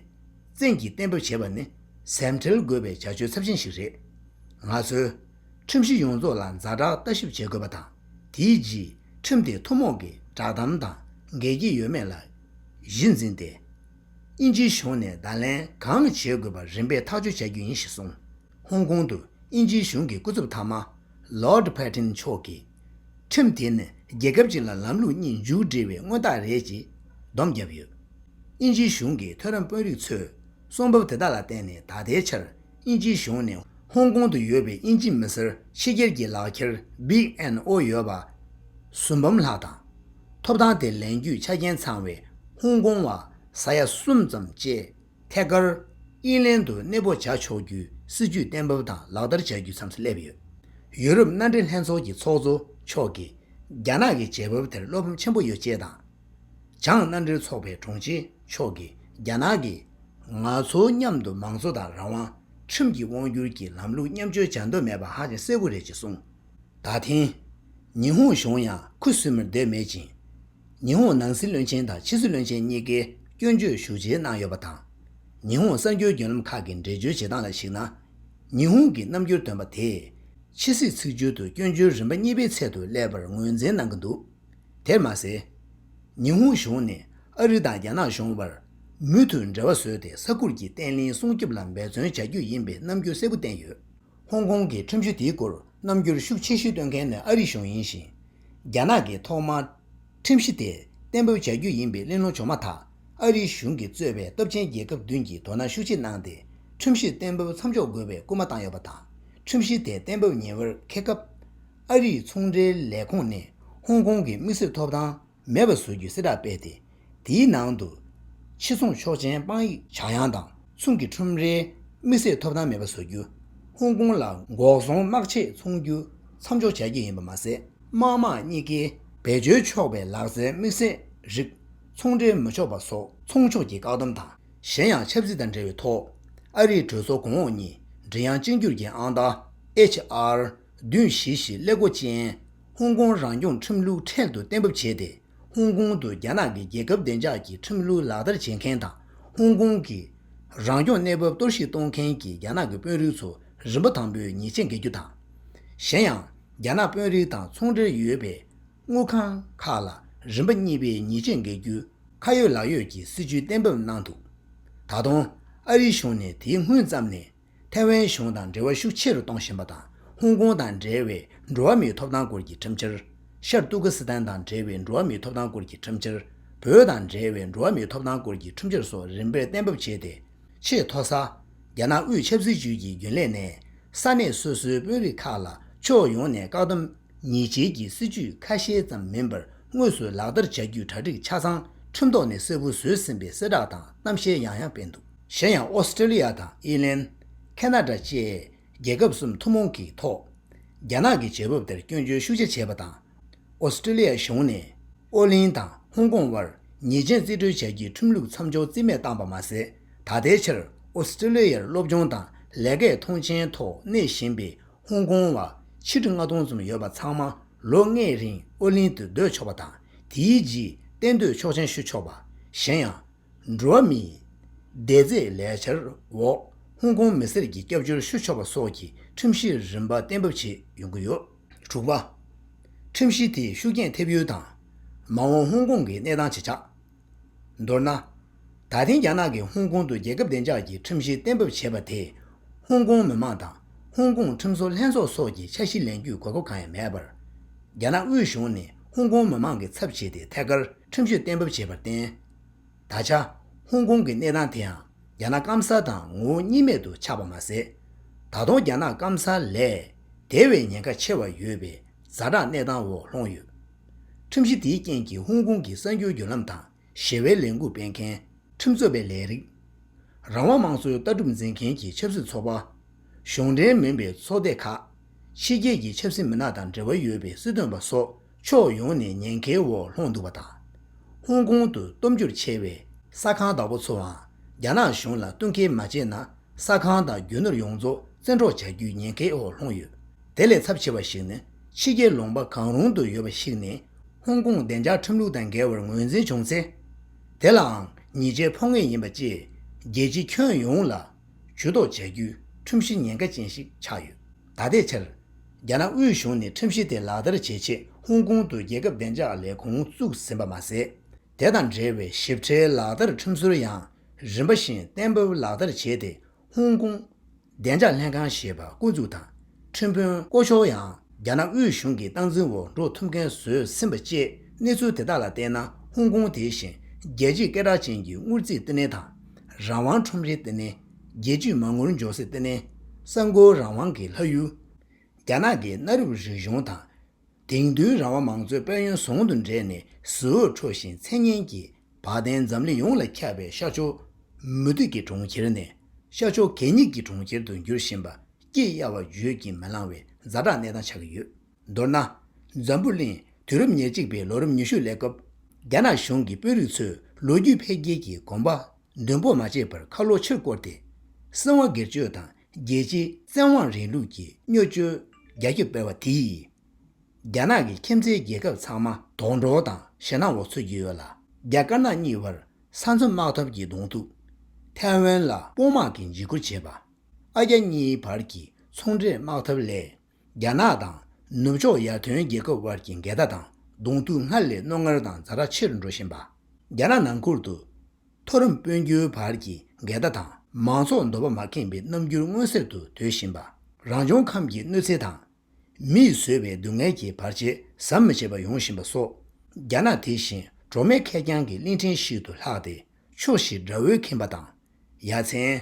བཙན་གྱིས་གཏན་འབེབས་བྱེད་པ་ནི་གཟེངས་ཁྲེལ་དགོས་པའི་བྱ་སྤྱོད་ཚབས་ཆེན་ཞིག་རེད། ང་ཚོས། ཁྲིམས་གཞི་ཡོངས་རྫོགས་ལ་མཛའ་བསྒྲགས་ལྟ་ཞིབ་བྱེད་དགོས་པ་དང། དེའི་རྗེས་ཁྲིམས་དེ་ཐུན་མོང་གི་བསྒྲགས་གཏམ་དང་འགལ་གྱི་ཡོད་མེད་ལ་གཞི་འཛིན་ཏེ། དབྱིན་ཇིའི་གཞུང་ནས་བརྡ་ལན་གང་བྱེད་དགོས་པ་རིམ་པས་ཐག་གཅོད་བྱ་རྒྱུ་ཡིན་ཞེས་གསུངས། ཧོང་ཀོང་དུ་དབྱིན་ཇིའི་གཞུང་གི་སྐུ་ཚབ་མཐའ་མ། Lord Paton། མཆོག་གིས། ཁྲིམས་དེ་ནི་རྒྱལ་ཁབ་ཅིག་ལ་ལམ་ལུགས་གཉིས་མཇུག་སྒྲིལ་བའི་མངོན་རྟགས་རེད་ཅེས་སྡོམ་བརྒྱབ་ཡོད། དབྱིན་ཇིའི་གཞུང་གི་མཐོ་རིམ་དཔོན་རིགས་ཚོས་གསུང་བབ་དེ་དག་ལ་བརྟེན་ནས་ད་ལྟའི་ཆར་དབྱིན་ཇིའི་གཞུང་ནས་ཧོང་ཀོང་དུ་ཡོད་པའི་དབྱིན་ཇི་མི་སེར་ཕྱི་རྒྱལ་གྱི་ལག་འཁྱེར Big NO ཡོད་པ་སུམ་འབུམ་ལྷག་དང། ཐོབ་ཐང་དེ་ལེན་རྒྱུའི་ཆ་རྐྱེན་ཚང་བའི་ཧོང་ཀོང་བ་ས་ཡ་གསུམ་ཙམ་བཅས། ཐད་ཀར། དབྱིན་ལན་དུ་གནས་སྤོ་བྱ་ཆོག་རྒྱུའི་སྲིད་ཇུས་གཏན་འབེབས་དང་ལག་བསྟར་བྱ་རྒྱུ་མཚམས་སུ་སླེབས་ཡོད། ཡུ་རོབ་མནའ་འབྲེལ་ལྷན་ཚོགས་ཀྱི་ཚོགས་གཙོ་མཆོག་གིས་རྒྱ་ནག་གི་བྱེད་བབ་དེར་བློ་ཕམ་ཆེན་པོ་ཡོད་ཅེས་དང། བྱང་མནའ་འབྲེལ་ཚོགས་པའི་དྲུང་ཆེ་མཆོག་གིས་རྒྱ་ནག་གིས། ང་ཚོ་མཉམ་དུ་མང་གཙོ་དང་རང་དབང། ཁྲིམས་ཀྱི་དབང་བསྒྱུར་གྱི་ལམ་ལུགས་མཉམ་སྤྱོད་བྱ་འདོད་མེད་པ་ཧ་ཅང་གསལ་བོ་རེད་ཅེས་གསུངས། ད་ཐེངས། ཉི་ཧོང་གཞུང་ཡང་ཁུ་སིམ་མེར་སྡོད་མེད་ཅིང། ཉི་ཧོང་ནང་སྲིད་བློན་ཆེན་དང་ཕྱི་སྲིད་བློན་ཆེན་གཉིས་ཀས་སྐྱོན་བརྗོད་ཞུ་བྱེད་གནང་ཡོད་པ་དང། ཉི་ཧོང་གསར་འགྱུར་རྒྱུན་ལམ་ཁག་གི་འགྲེལ་བརྗོད་བྱེད་སྟངས་ལ་གཞིགས་ན། ཉི་ཧོང་གི་རྣམ་འགྱུར་འདོན་པ་དེས་ཕྱི་སྲིད་ཚིག་སྦྱོར་དུ་སྐྱོན་བརྗོད་རིམ་པ་གཉིས་པའི་ཚད་དུ་སླེབས་པར་ངོས་འཛིན་གནང་གི་འདུག་དེར་མ་ཟད། ཉི་ཧོང་གཞུང་ནས་ཨ་རི་དང་རྒྱ་ནག་གཞུང་བར་མུ་མཐུད་འབྲེལ་བ་བཟོས་ཏེ་ས་ཁུལ་གྱི་བརྟན་བརླིང་སྲུང་སྐྱོབ་ལ་འབད་བརྩོན་བྱ་རྒྱུ་ཡིན་པའི་རྣམ་འགྱུར་གསལ་པོ་བསྟན་ཡོད། ཧོང་ཀོང་གི་ཁྲིམས་གཞི་དེའི་སྐོར་རྣམ་འགྱུར་ཤུགས་ཆེ་ཤོས་སྟོན་མཁན་ནི་ཨ་རི་གཞུང་ཡིན་ཞིང། རྒྱ་ནག་གིས་ཐོག་མར་ཁྲིམས་གཞི་དེ་གཏན་འབེབས་བྱ་རྒྱུ་ཡིན་པའི་གླེང་སློང་བྱུང་མ་ཐག་ཨ་རིའི་གཞུང་གིས་གཙོས་པའི་སྟོབས་ཆེན་རྒྱལ་ཁབ་བདུན་གྱིས་དོ་སྣང་ཤུགས་ཆེ་གནང་སྟེ་ཁྲིམས་གཞིར་གཏན་འབེབས་མཚམས་འཇོག་དགོས་པའི་སྐུལ་མ་བཏང་ཡོད་པ་དང། ཁྲིམས་གཞི་དེ་གཏན་འབེབས་ཉེ་བར་འཁེལ་སྐབས། ཨ་རིའི་ཚོང་འབྲེལ་ལས་ཁུངས་ནས་ཧོང་ཀོང་གི་དམིགས་བསལ་ཐོབ་ཐང་མེད་པར་བཟོ་རྒྱུའི་གསལ་བསྒྲགས་སྤེལ་ཏེ། དེའི་ནང་དུ། ཕྱི་སྲུང་ཆོག་མཆན་དཔང་ཡིག་བྱ་གཡང་དང་མཚུངས་ཀྱི་ཁྲོམ་རའི་དམིགས་བསལ་ཐོབ་ཐང་མེད་པ་བཟོ་རྒྱུ། ཧོང་ཀོང་ལ་འགོག་སྲུང་དམག་ཆས་འཚོང་རྒྱུ་མཚམས་འཇོག་བྱ་རྒྱུ་ཡིན་པ་མ་ཟད། དམག་དམངས་གཉིས་ཀའི་བེད་སྤྱོད་ཆོག་པའི་ལག་རྩལ་དམིགས་བསལ་རིགས་ཚོང་འབྲེལ་མི་ཆོག་པ་སོགས་ཚོང་ཕྱོགས་ཀྱི་བཀག་སྡོམ་དང་གཞན་ཡང་ཆབ་སྲིད་དང་འབྲེལ་བའི་ཐོག་ཨ་རིའི་གྲོས་ཚོགས་གོང་འོག་གཉིས་མགྲིན་དབྱངས་གཅིག་འགྱུར་གྱི་ཨང་རྟགས HR། བདུན་བཞི་བཞི་སླེ་སྒོ་ཅན་ཧོང་ཀོང་རང་སྐྱོང་ཁྲིམས་ལུགས་འཕྲལ་དུ་གཏན་འབེབས་བྱས་ཏེ། ཧོང་ཀོང་དུ་རྒྱ་ནག་གི་རྒྱལ་ཁབ་བདེ་འཇགས་ཀྱི་ཁྲིམས་ལུགས་ལག་བསྟར་བྱེད་མཁན་དང་ཧོང་ཀོང་གི་རང་སྐྱོང་གནས་བབ་གཏོར་བཤིག་གཏོང་མཁན་གྱི་རྒྱ་ནག་གི་དཔོན་རིགས་ཚོ་རིམ་པ་དང་པོས་ཉེས་ཆད་འགེལ་རྒྱུ་དང། གཞན་ཡང་རྒྱ་ནག་དཔོན་རིགས་དང་ཚོང་འབྲེལ་ཡོད་པའི་དངུལ་ཁང་ཁག་ལ་རིམ་པ་གཉིས་པའི་ཉེས་ཆད་འགེལ་རྒྱུའི་ཁ་ཡོད་ལག་ཡོད་ཀྱི་སྲིད་བྱུས་གཏན་འབེབས་གནང་འདུག་ད་དུང་ཨ་རི་གཞུང་ནས་དེའི་སྔོན་ཙམ་ནས། ཐའེ་ཝན་གཞུང་དང་འབྲེལ་བ་ཤུགས་ཆེ་རུ་གཏོང་བཞིན་པ་དང་ཧོང་ཀོང་དང་འབྲེལ་བའི་འགྲོ་བ་མིའི་ཐོབ་ཐང་སྐོར་གྱི་ཁྲིམས་འཆར། ཤར་ཏུར་ཀི་སི་ཐན་དང་འབྲེལ་བའི་འགྲོ་བ་མིའི་ཐོབ་ཐང་སྐོར་གྱི་ཁྲིམས་འཆར། བོད་དང་འབྲེལ་བའི་འགྲོ་བ་མིའི་ཐོབ་ཐང་སྐོར་གྱི་ཁྲིམས་འཆར་སོགས་རིམ་པས་གཏན་འབེབས་བྱས་ཏེ། ཆེས་མཐོ་ས། རྒྱ་ནག་དབུས་ཆབ་སྲིད་ཅུས་ཀྱི་རྒྱུན་ལས་ནས་ས་གནས་སོ་སོའི་དཔོན་རིགས་ཁག་ལ་ཕྱོགས་ཡོངས་ནས་བཀག་སྡོམ་ཉེས་བྱས་ཀྱི་སྲིད་ཇུས་ཁ་ཤས་ཙམ་མིན་པར་དངོས་སུ་ལག་བསྟར་བྱ་རྒྱུའི་གྲ་སྒྲིག་ཆ་ཚང་ཁྲིམས་ཐོག་ནས་གསལ་པོ་བཟོས་ཟིན་པའི་གསལ་བསྒྲགས་དང་གཏམ་བཤད་ཡང་ཡང་སྤེལ་འདུག། གཞན་ཡང་ཨོ་སི་ཀྲི་ལི་ཡ་དང་དབྱི་ལན། ཁེ་ན་ཏྲ་བཅས་རྒྱལ་ཁབ་གསུམ་ཐུན་མོང་གིས་ཐོག་རྒྱ་ནག་གི་བྱེད་བབ་དེར་སྐྱོན་བརྗོད་ཤུགས་ཆེ་བྱས་པ་དང། ཨོ་སི་ཀྲི་ལི་ཡ་གཞུང་ནས་ཨོ་གླིང་དང་ཧོང་ཀོང་དབར་ཉེས་ཅན་རྩིས་སྤྲོད་བྱ་རྒྱུའི་ཁྲིམས་ལུགས་མཚམས་འཇོག་རྩིས་མེད་བཏང་པ་མ་ཟད་ད་ལྟའི་ཆར་ཨོ་སི་ཀྲི་ལི་ཡར་སློབ་སྦྱོང་དང་ལས་ཀའི་ཐོངས་མཆན་ཐོག་གནས་བཞིན་པའི་ཧོང་ཀོང་བ་ཆིག་ཁྲི་ལྔ་སྟོང་ཙམ་ཡོད་པ་ཚང་མ་ལོ་ལྔའི་རིང་ཨོ་གླིང་དུ་སྡོད་ཆོག་པ་དང་དེའི་རྗེས་གཏན་སྡོད་ཆོག་མཆན་ཞུ་ཆོག་པ། གཞན་ཡང། འགྲོ་བ་མིའི་བདེ་རྩའི་ལས་འཆར་འོག་ཧོང་ཀོང་མི་སེར་གྱི་སྐྱབས་བཅོལ་ཞུ་ཆོག་པ་སོགས་ཀྱི་ཁྲིམས་གཞི་རིམ་པ་གཏན་འབེབས་བྱས་ཡོང་གི་ཡོད། དྲུག་པ། ཁྲིམས་གཞི་དེས་ཤུགས་རྐྱེན་ཐེབས་ཡུལ་དང། མ་འོངས་ཧོང་ཀོང་གི་གནས་སྟངས་ཇི་ཆགས། མདོར་ན། ད་ཐེངས་རྒྱ་ནག་གིས་ཧོང་ཀོང་དུ་རྒྱལ་ཁབ་བདེ་འཇགས་ཀྱི་ཁྲིམས་གཞི་གཏན་འབེབས་བྱས་པ་དེས་ཧོང་ཀོང་མི་མང་དང་ཧོང་ཀོང་ཁྲིམས་བཟོ་ལྷན་ཚོགས་སོགས་ཀྱི་འཆར་གཞི་ལེན་རྒྱུའི་དགོས་མཁོ་གང་ཡང་མེད་པར། རྒྱ་ནག་དབུས་གཞུང་ནས་ཧོང་ཀོང་མི་མང་གི་ཚབ་བྱས་ཏེ་ཐད་ཀར་ཁྲིམས་གཞི་གཏན་འབེབས་བྱས་པར་བརྟེན། ད་ཆ་ཧོང་ཀོང་གི་གནས་སྟངས་དེའང་རྒྱ་ནག་སྐམ་ས་དང་ངོ་བོ་གཉིས་མེད་དུ་ཆགས་པ་མ་ཟད། ད་དུང་རྒྱ་ནག་སྐམ་ས་ལས་དེ་བས་ཉེན་ཁ་ཆེ་བ་ཡོད་པའི་ཛ་དྲག་གནས་སྟངས་འོག་ལྷུང་ཡོད། ཁྲིམས་གཞི་དེའི་རྐྱེན་གྱིས་ཧོང་ཀོང་གི་གསར་འགྱུར་བརྒྱུད་ལམ་དང་ཞི་བའི་ལས་འགུལ་སྤེལ་མཁན། ཁྲིམས་རྩོད་པའི་ལས་རིགས། རང་དབང་དམངས་གཙོའི་ལྟ་གྲུབ་འཛིན་མཁན་གྱི་ཆབ་སྲིད་ཚོགས་པ། གཞུང་འབྲེལ་མིན་པའི་ཚོགས་སྡེ་ཁག། ཕྱི་རྒྱལ་གྱི་ཆབ་སྲིད་མི་སྣ་དང་འབྲེལ་བ་ཡོད་པའི་སྲིད་དོན་པ་སོགས་ཕྱོགས་ཡོངས་ནས་ཉེན་ཁའི་འོག་ལྷུང་འདུག་པ་དང། ཧོང་ཀོང་དུ་སྟོབས་འབྱོར་ཆེ་བའི་ས་ཁང་བདག་པོ་ཚོའང་རྒྱ་ནག་གཞུང་ལ་བསྟུན་མཁས་མ་བྱས་ན་ས་ཁང་དང་རྒྱུ་ནོར་ཡོངས་རྫོགས་བཙན་འཕྲོག་བྱ་རྒྱུའི་ཉེན་ཁའི་འོག་ལྷུང་ཡོད། དེ་ལས་ཚབས་ཆེ་བ་ཞིག་ནི་ཕྱི་རྒྱལ་ལུང་པ་གང་རུང་དུ་ཡོད་པ་ཞིག་ནས་ཧོང་ཀོང་བདེ་འཇགས་ཁྲིམས་ལུགས་དང་འགལ་བར་ངོས་འཛིན་བྱུང་ཚེ། དེ་ལའང་ཉེས་ཆད་འཕོག་ངེས་ཡིན་པ་བཅས་རྒྱལ་སྤྱིའི་ཁྱོན་ཡོངས་ལ་ཇུས་གཏོགས་བྱ་རྒྱུའི་ཁྲིམས་གཞི་ཉེན་ཁ་ཅན་ཞིག་ཆགས་ཡོད། ད་ལྟའི་ཆར། རྒྱ་ནག་དབུས་གཞུང་ནས་ཁྲིམས་གཞི་དེ་ལག་བསྟར་བྱེད་ཆེད་ཧོང་ཀོང་དུ་རྒྱལ་ཁབ་བདེ་འཇགས་ལས་ཁུངས་བཙུགས་ཟིན་པ་མ་ཟད། དེ་དང་འབྲེལ་བའི་ཞིབ་ཕྲའི་ལག་བསྟར་ཁྲིམས་སྲོལ་ཡང་རིམ་པ་བཞིན་གཏན་འབེབས་ལག་བསྟར་བྱས་ཏེ་ཧོང་ཀོང། བདེ་འཇགས་ལྷན་ཁང་ཞེས་པ་བསྐོ་འཛུགས་དང་ཁྲིམས་དཔོན་བསྐོ་ཕྱོགས་ཡང་རྒྱ་ནག་དབུས་གཞུང་གི་སྟངས་འཛིན་འོག་འགྲོ་ཐུབ་མཁན་བཟོས་ཟིན་པ་བཅས་གནས་ཚུལ་དེ་དག་ལ་བལྟས་ན་ཧོང་ཀོང་དེ་བཞིན་རྒྱལ་གཅེས་སྐད་གྲགས་ཅན་གྱི་དངུལ་རྩིས་ལྟེ་གནས་དང། རང་དབང་ཁྲོམ་རའི་ལྟེ་གནས། རྒྱལ་ཇུས་མ་ངུར་འཇོག་སྲིད་བརྟན་ནས་གསར་འགོད་རང་དབང་གི་ལྷ་ཡུལ། རྒྱ་ནག་གི་གནའ་རབས་རིག་གཞུང་དང། དེང་དུས་རང་དབང་མང་གཙོའི་དཔལ་ཡོན་ཟུང་དུ་འབྲེལ་ནས་གཟི་འོད་འཕྲོ་བཞིན་མཚན་སྙན་གྱི་བ་དན་འཛམ་གླིང་ཡོངས་ལ་ཁྱབ་པའི་ཤར་ཕྱོགས་མུ་མཐུད་ཀྱི་གྲོང་ཁྱེར་ནས་ཤར་ཕྱོགས་གད་སྙིགས་ཀྱི་གྲོང་ཁྱེར་དུ་འགྱུར་བཞིན་པ་སྐྱི་གཡའ་བ་བརྗོད་ཀྱིས་མི་ལང་བའི་རྫ་དྲག་གནས་སྟངས་ཆགས་ཀྱི་ཡོད། མདོར་ན། འཛམ་བུ་གླིང་དུས་རབས་ཉེར་གཅིག་པའི་ལོ་རིམ་ཉི་ཤུ་ལས་སྐབས་རྒྱ་ནག་གཞུང་གི་དཔོན་རིགས་ཚོས་ལོ་རྒྱུས་འཕེལ་རྒྱས་ཀྱི་དགོངས་པ་འདོན་སྤོ་མ་བྱས་པར་ཁ་ལོ་ཕྱིར་བསྐོར་ཏེ། སྲིད་དབང་སྒེར་གཅོད་དང་རྒྱལ་སྤྱིའི་བཙན་དབང་རིང་ལུགས་ཀྱི་སྨྱོ་སྤྱོད་རྒྱ་ཁྱབ་སྤེལ་བ་དེས། རྒྱ་ནག་གི་ཁྱིམ་མཚེས་རྒྱལ་ཁབ་ཚང་མ་དོགས་འདྲོག་དང་ཞེ་སྣང་འོག་ཚུད་ཀྱི་ཡོད་ལ། རྒྱ་དཀར་ནག་གཉིས་བར་ས་མཚམས་དམག་འཐབ་ཀྱི་གདོང་ཐུག། ཐའེ་ཝན་ལ་དཔུང་དམག་གིས་འཇིགས་སྐུལ་བྱེད་པ། ཨ་རྒྱ་གཉིས་བར་གྱི་ཚོང་འབྲེལ་དམག་འཐབ་ལས། རྒྱ་ནག་དང་ནུབ་ཕྱོགས་ཡར་ཐོན་རྒྱལ་ཁབ་དབར་གྱི་འགལ་ཟླ་དང་གདོང་ཐུག་སྔར་ལས་རྣོ་ངར་དང་རྫ་དྲག་ཆེར་འགྲོ་བཞིན་པ། རྒྱ་ནག་ནང་ཁུལ་དུ་མཐོ་རིམ་དཔོན་རྒྱུའི་བར་གྱི་འགལ་ཟླ་དང་མང་ཚོགས་འདོད་པ་མ་ཁེངས་པའི་རྣམ་འགྱུར་མངོན་གསལ་དུ་དོད་བཞིན་པ། རང་བྱུང་ཁམས་ཀྱི་གནོད་འཚེ་དང། མིས་བཟོས་པའི་སྡུག་བསྔལ་གྱི་བར་ཆད་ཟམ་མི་ཆད་པ་ཡོང་བཞིན་པ་སོགས། རྒྱ་ནག་དེ་བཞིན་གྲོགས་མེད་ཁེར་རྐྱང་གི་གླིང་ཕྲན་ཞིག་ཏུ་ལྷགས་ཏེ་ཕྱོགས་བཞིར་དགྲ་བོས་ཁེངས་པ་དང། ཡ་མཚན།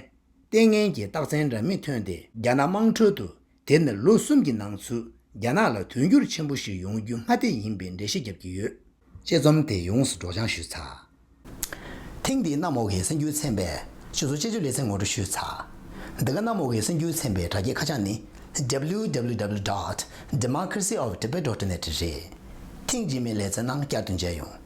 ལྟས་ངན་གྱི་རྟགས་མཚན་འདྲ་མིན་ཐོན་ཏེ་རྒྱ་ནག་དམངས་ཁྲོད་དུ་དེར་ནི་ལོ་གསུམ་གྱི་ནང་ཚུད་རྒྱ་ནག་ལ་དུས་འགྱུར་ཆེན་པོ་ཞིག་ཡོང་རྒྱུ་སྔ་ལྟས་ཡིན་པའི་འགྲེལ་བཤད་བརྒྱབ་ཀྱི་ཡོད། དཔྱད་རྩོམ་དེ་ཡོངས་སུ་སྒྲོག་སྦྱང་ཞུས་ཚར། ཐེངས་འདིའི་གནམ་འོག་གི་སེམས་འགྱུར་ཚན་པའི་ཆུ་ཚོད་དཔྱད་བརྗོད་ལེ་ཚན་ངོ་སྤྲོད་ཞུས་ཚར། འདི་ག་གནམ་འོག་གི་སེམས་འགྱུར་ཚན་པའི་དྲ་རྒྱའི་ཁ་བྱང་ནི www. Democracy of Tibet. Net རེད། ཐེངས་རྗེས་མའི་ལེ་ཚན་ནང་བསྐྱར་དུ་མཇལ་ཡོང།